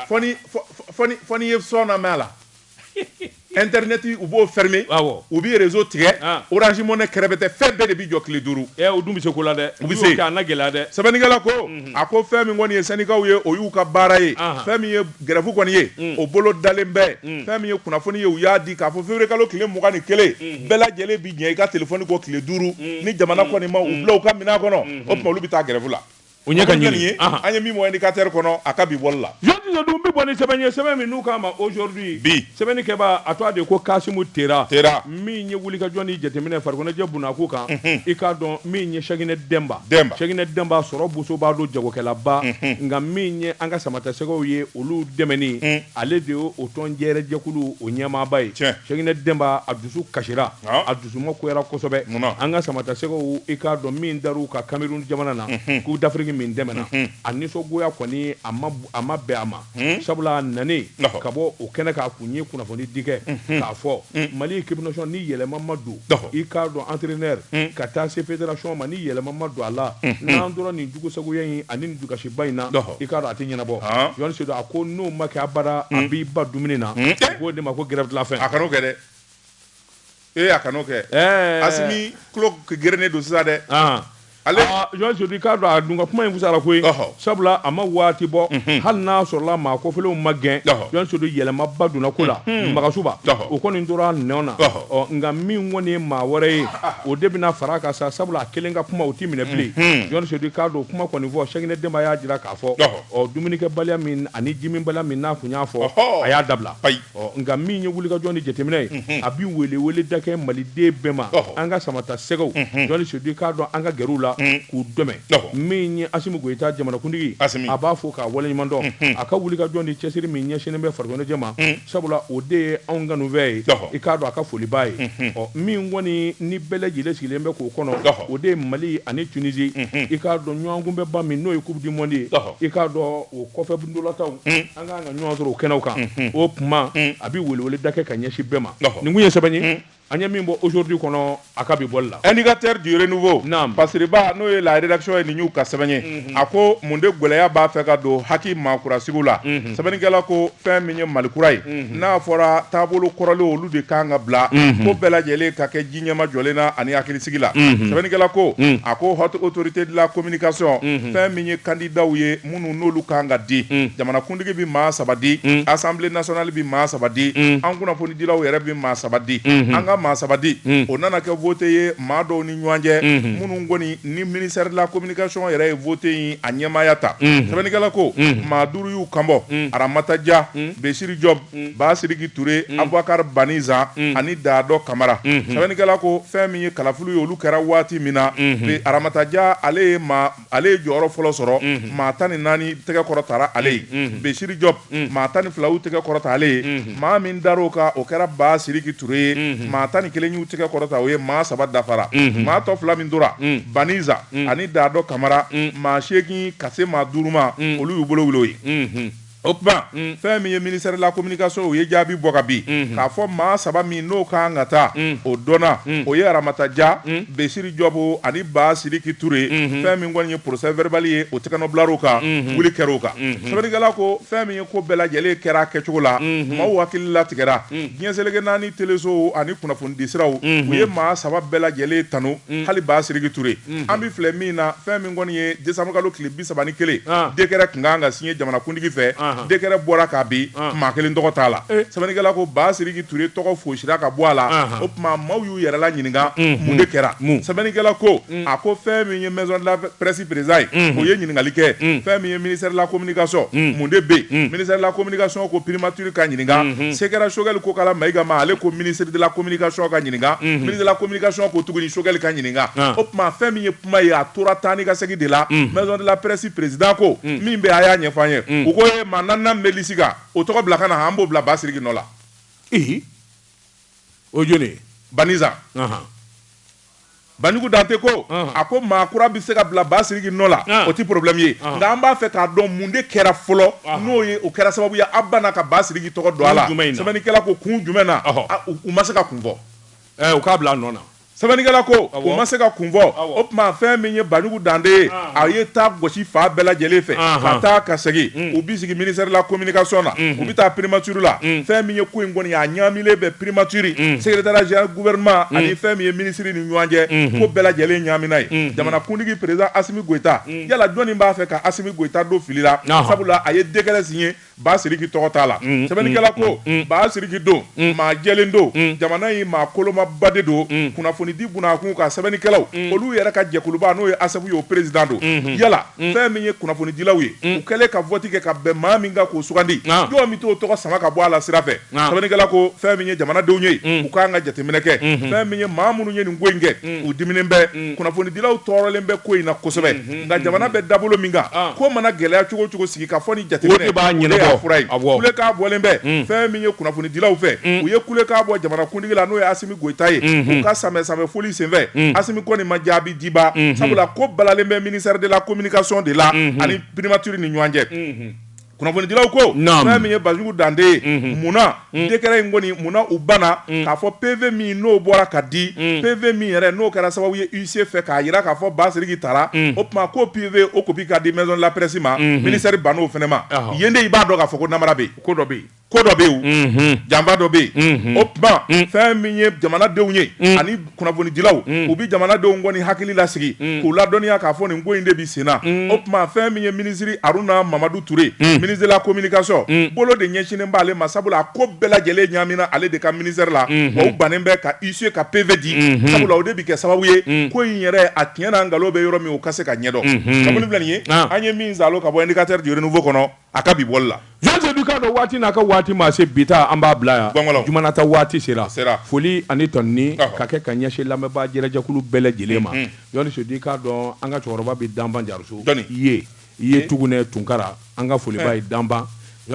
fɔ n'i ye son namɛn a la internet u b'o fɛrime u bɛ réseau tigɛ Orange Money kɛrɛfɛ tɛ fɛn bɛɛ de bɛ jɔ tile duuru u dun bɛ se ko la dɛ u bɛ se gɛlɛya dɛ sɛbɛnnikɛla ko a ko fɛn min kɔni ye sɛndikaw ye o y'u ka baara ye fɛn Gɛrɛfu kɔni ye o bolo dalen bɛ fɛn min ye kunnafoni ye u y'a di k'a fɔ février kalo tile mugan ni kelen bɛɛ lajɛlen bɛ ɲinɛ i ka téléphone kɔ tile duuru ni jamana kɔni ma u bila u ka minɛn kɔnɔ o tuma olu bɛ taa gɛrɛfu la o ɲɛ ka ɲini an ye min bɔ Indicateur kɔnɔ a ka bi bɔli la jɔn dun bɛ bɔ ni sɛbɛn ye sɛbɛn min n'u k'a ma Aujourd'hui bi sɛbɛnnikɛbaa a tɔgɔ de ko Kasimu Tera min ye wulikajɔ ni jateminɛ farikoloɲɛnajɛ bna a ko kan i k'a dɔn min ye sɛkinɛ denba sɛkinɛ denba sɔrɔ boso b'a don jagokɛlaba nka min ye an ka samatasɛgɛw ye olu dɛmɛni ale de ye o tɔn yɛrɛ jɛkulu o ɲɛmaaba ye sɛkinɛ denba a dusu kasira a dusu magoyara kosɛbɛ an ka samatasɛgɛw i k'a dɔn min dara u kan Cameroun jamana na Coupe d'Afrique min tɛmɛna a nisɔngoya kɔni a ma bɛn a ma Hmm? sabula a nanen ka bɔ o kɛnɛ k'a kun ye kunnafoni di kɛ hmm. k'a fɔ hmm. mali équipe nationale ni yɛlɛma ma don i k'a dɔn entraîneur ka taa se fédération ma ni yɛlɛma ma don a la n'an tora nin jugusagoya in ani nin dusukasiba in na i k'a dɔn a tɛ ɲɛnabɔ ah. Yohane Seydou a ko n'o ma kɛ abada a b'i ban dumuni na u k'o de ma ko grève de la faim a kan'o kɛ dɛ Ee a kan'o kɛ ɛɛ Asimi tulo gerennen don sisan dɛ, an, ale, aa Jɔn Sodi i k'a dɔn a dun ka kuma in fisayara koyi, ɔhɔ, sabula a ma waati bɔ, unhun, hali n'a sɔrɔla maa kofɔlenw ma gɛn, ɔhɔ, Jɔn Sodi yɛlɛmaba donna ko la, unhun, Magasuba, ɔhɔ, o kɔni tora a nɔ na, ɔhɔ, ɔ nka min kɔni ye maa wɛrɛ ye, o de bɛna fara a kan sa, sabula a kelen ka kuma o tɛ minɛ bilen, unhun, Jɔn Sodi i k'a dɔn o kuma kɔni fɔ Sɛkinɛ Denba y'a jira k'a fɔ, ɔhɔ, ɔ dumunikɛbaliya min ani jiminbaliya min n'a tun y'a fɔ, ɔhɔ, a y'a dabila, ayi. Ɔ nka min ye wulikajɔ ni jateminɛ ye a bɛ weleweleda kɛ maliden bɛɛ ma an ka samatasɛgɛw jɔn sodi i k'a dɔn an ka gɛrɛ u la k'u dɛmɛ min ye asimi goyita jamanakuntigi a b'a fo k'a waleɲuman dɔn a ka wulikajɔ ni cɛsiri min ɲɛsinnen bɛ farikoloɲɛnajɛ ma sabula o de ye anw kanufɛn ye i k'a dɔn a ka foliba ye ɔ min kɔni ni bɛɛ lajɛlen sigilen bɛ k'o kɔnɔ o de ye mali ani tunizi i k'a dɔn ɲɔgɔnkunbɛnba min n'o ye coupe du monde ye i k'a dɔn o kɔfɛ ntolatanw an ka kan ka ɲɔgɔn sɔrɔ o kɛnɛw kan o kuma a bɛ weleweleda kɛ ka ɲɛsin bɛɛ ma nin kun ye sɛbɛn ye an ye min bɔ aujourd'hui kɔnɔ a ka bi bɔ la indicateur du renouveau n pasiriba n'o ye la rédaction ye nin y'u ka sɛbɛn ye a ko mun de gɛlɛya b'a fɛ ka don HAC maakura sigi la sɛbɛnnikɛla ko fɛn min ye malikura ye n'a fɔra taabolo kɔrɔlen olu de ka kan ka bila ko bɛɛ lajɛlen ka kɛ ji ɲɛmajɔlen na ani hakilisigi la sɛbɛnnikɛla ko a ko haute autorité de la communication fɛn min ye kandidaw ye minnu n'olu ka kan ka di mm. jamanakuntigi bɛ maa saba di mm. assemblée nationale bɛ maa saba di mm. an kunnafonidilaw yɛrɛ bɛ maa saba di mm-hmm. an ka maa saba di o nana kɛ vote ye maa dɔw ni ɲɔgɔn cɛ mm-hmm. minnu kɔni ni ministère de la communication yɛrɛ ye vote in a ɲɛmaaya ta mm-hmm. sɛbɛnnikɛla ko maa duuru y'u kan bɔ aramata ja besiri jɔb basiriki ture abubakar bani zan ani daadɔ kamara sɛbɛnnikɛla ko fɛn min ye kalafiliw ye olu kɛra waati min na aramata ja ale ye maa ale ye jɔyɔrɔ fɔlɔ sɔrɔ maa tan ni naani tɛgɛ kɔrɔtara ale ye besiri jɔb maa tan ni fila y'u tɛgɛ kɔrɔta ale ye maa min dara o kan o kɛra basiriki ture ye maa tan ni kelen y'u tɛgɛ kɔrɔta o ye maa saba dafara maa tɔ fila min tora bani zan ani daadɔ kamara maa seegin ka se maa duuru ma olu y'u bolo wuli o ye O tuma fɛn min ye ministère de la communication o ye jaabi bɔ ka bin k'a fɔ maa saba min n'o ka kan ka taa o dɔnna o ye Aramata Dia Béchiry Diop ani ba siriki Touré fɛn min kɔni ye procès verbal ye o tɛgɛnɔ bilar'o kan wuli kɛr'o kan sɛbɛnnikɛla ko fɛn min ye ko bɛɛ lajɛlen kɛra kɛcogo la maaw hakili latigɛra diɲɛ seleke naani telesow ani kunnafonidisiraw u ye maa saba bɛɛ lajɛlen tanu hali ba siriki Touré an bɛ filɛ min na fɛn min kɔni ye décembre kalo tile saba ni kelen décret tun kan ka signé jamanakuntigi fɛ décret bɔra k'a bin maa kelen tɔgɔ t'a la sɛbɛnnikɛla ko ba siriki Touré tɔgɔ fosira ka bɔ a la o tuma maaw y'u yɛrɛla ɲininka mun de kɛra sɛbɛnnikɛla ko a ko fɛn min ye maison de la presse président ye o ye ɲininkali kɛ fɛn min ye ministère de la communication mun de bɛ ministère de la communication ko primature ka ɲininka se kɛra Choguel Kokalla Maïga ma ale ko ministre de la communication ka ɲininka ministre de la communication ko tuguni Choguel ka ɲininka o tuma fɛn min ye kuma ye a tora taa ni ka segin de la mm. maison de la presse président ko mm. min bɛ a y'a ɲɛfɔ an ye mm. u ko ye maa naaninan min bɛ lisi kan o tɔgɔ bila ka na an b'o bila ba siriki nɔ la ihi o jɔni ye baniza Banjugu Dante ko a ko maa kura bɛ se ka bila ba siriki nɔ la o tɛ problème ye nka an b'a fɛ k'a dɔn mun de kɛra fɔlɔ n'o ye o kɛra sababu ye a banna ka ba siriki tɔgɔ don a la sɛbɛnnikɛla ko kun jumɛn na u ma se ka kun fɔ eh, u k'a bila a nɔ na Sɛbɛnnikɛla ko u ma se ka kun fɔ o tuma fɛn min ye Banjugu Dante ye a ye da gosi fan bɛɛ lajɛlen fɛ ka taa ka segin u b'i sigi ministère de la communication na u bɛ taa primature la fɛn min ye ko in kɔni ye a ɲaaminen bɛ primature secrétariat général du gouvernement ani fɛn min ye minisiri ni ɲɔgɔn cɛ ko bɛɛ lajɛlen ɲaamina yen jamanakuntigi président Assimi Goita yala jɔni b'a fɛ ka Assimi Goita don fili la sabula a ye décret signer Ba Siriki tɔgɔ t'a la. Sɛbɛnnikɛla ko, Ba Siriki don, maa jɛlen don, jamana in maa kolomaba de don, kunnafonidi bunakun kan, sɛbɛnnikɛlaw, olu yɛrɛ ka jɛkuluba n'o ye ASSEP ye, o peresidan don. Yala fɛn min ye kunnafonidilaw ye, u kɛlen ka vɔti kɛ ka bɛn maa min kan k'o sugandi, jɔn bɛ t'o tɔgɔ sama ka bɔ a la sira fɛ? Nka. sɛbɛnnikɛla ko fɛn min ye jamanadenw ye u k'an ka jateminɛ kɛ fɛn min ye maa minnu ye nin ko in kɛ u diminen bɛ kunnafonidilaw tɔɔrɔlen bɛ ko in na kosɛbɛ nka jamana bɛ dabolo min kan ko mana gɛlɛya cogo o cogo sigi ka fɔ ni O de jateminɛ b'a ɲɛnabɔ. o de y'a fura ye Awɔ. kulekan bɔlen bɛ fɛn min ye kunnafonidilaw fɛ u ye kulekan bɔ jamanakuntigi la n'o ye Asimi Goyita ye u ka sanbɛɛ-sanbɛɛ foli senfɛ Asimi kɔni ma jaabi di ba sabula ko balalen bɛ ministère de la communication de la ani primature ni ɲɔgɔn cɛ. kunnafonidilaw ko Naam. fɛn min ye Banjugu Dante ye munna décret in kɔni munna u banna k'a fɔ PV min n'o bɔra ka di PV min yɛrɛ n'o kɛra sababu ye huissier fɛ k'a jira k'a fɔ Ba Siriki tara o tuma ko PV o copie ka di maison de la presse ma ministère bann'o fɛnɛ ma Ɔhɔ. yen de i b'a dɔn k'a fɔ ko namara bɛ yen ko dɔ bɛ yen ko dɔ bɛ yen janfa dɔ bɛ yen o tuma fɛn min ye jamanadenw ye ani kunnafonidilaw u bɛ jamanadenw kɔni hakili lasigi k'u ladɔnniya k'a fɔ nin ko in de bɛ senna o tuma fɛn min ye minisiri aruna mamadu ture ministre de la communication bolo de ɲɛsinnen b'ale ma sabula a ko bɛɛ lajɛlen ɲaamina ale de ka ministère la wa u bannen bɛ ka isu ka PV di sabula o de bɛ kɛ sababu ye ko in yɛrɛ a tiɲɛna nkalon bɛ yɔrɔ min u ka se k'a ɲɛdɔn a filɛ nin ye an ye min sɔrɔ ka bɔ indicateur du renouveau kɔnɔ A ka bi bɔli la. Jean Sedu i k'a dɔn waati n'a ka waati maa se bi ta an b'a bila yan. Gɔngɔlɔ. Juma nata waati sera. A sera. Foli ani tanuni. Ɔhɔ. Ka kɛ ka ɲɛsin lamɛnbaa jɛrɛjɛkulu bɛɛ lajɛlen ma. Unhun. Jɔni Sedu i k'a dɔn an ka cɛkɔrɔba bɛ Danban Jariso. Jɔni? I ye. I ye Tugunɛ Tunkara an ka foliba ye Danban.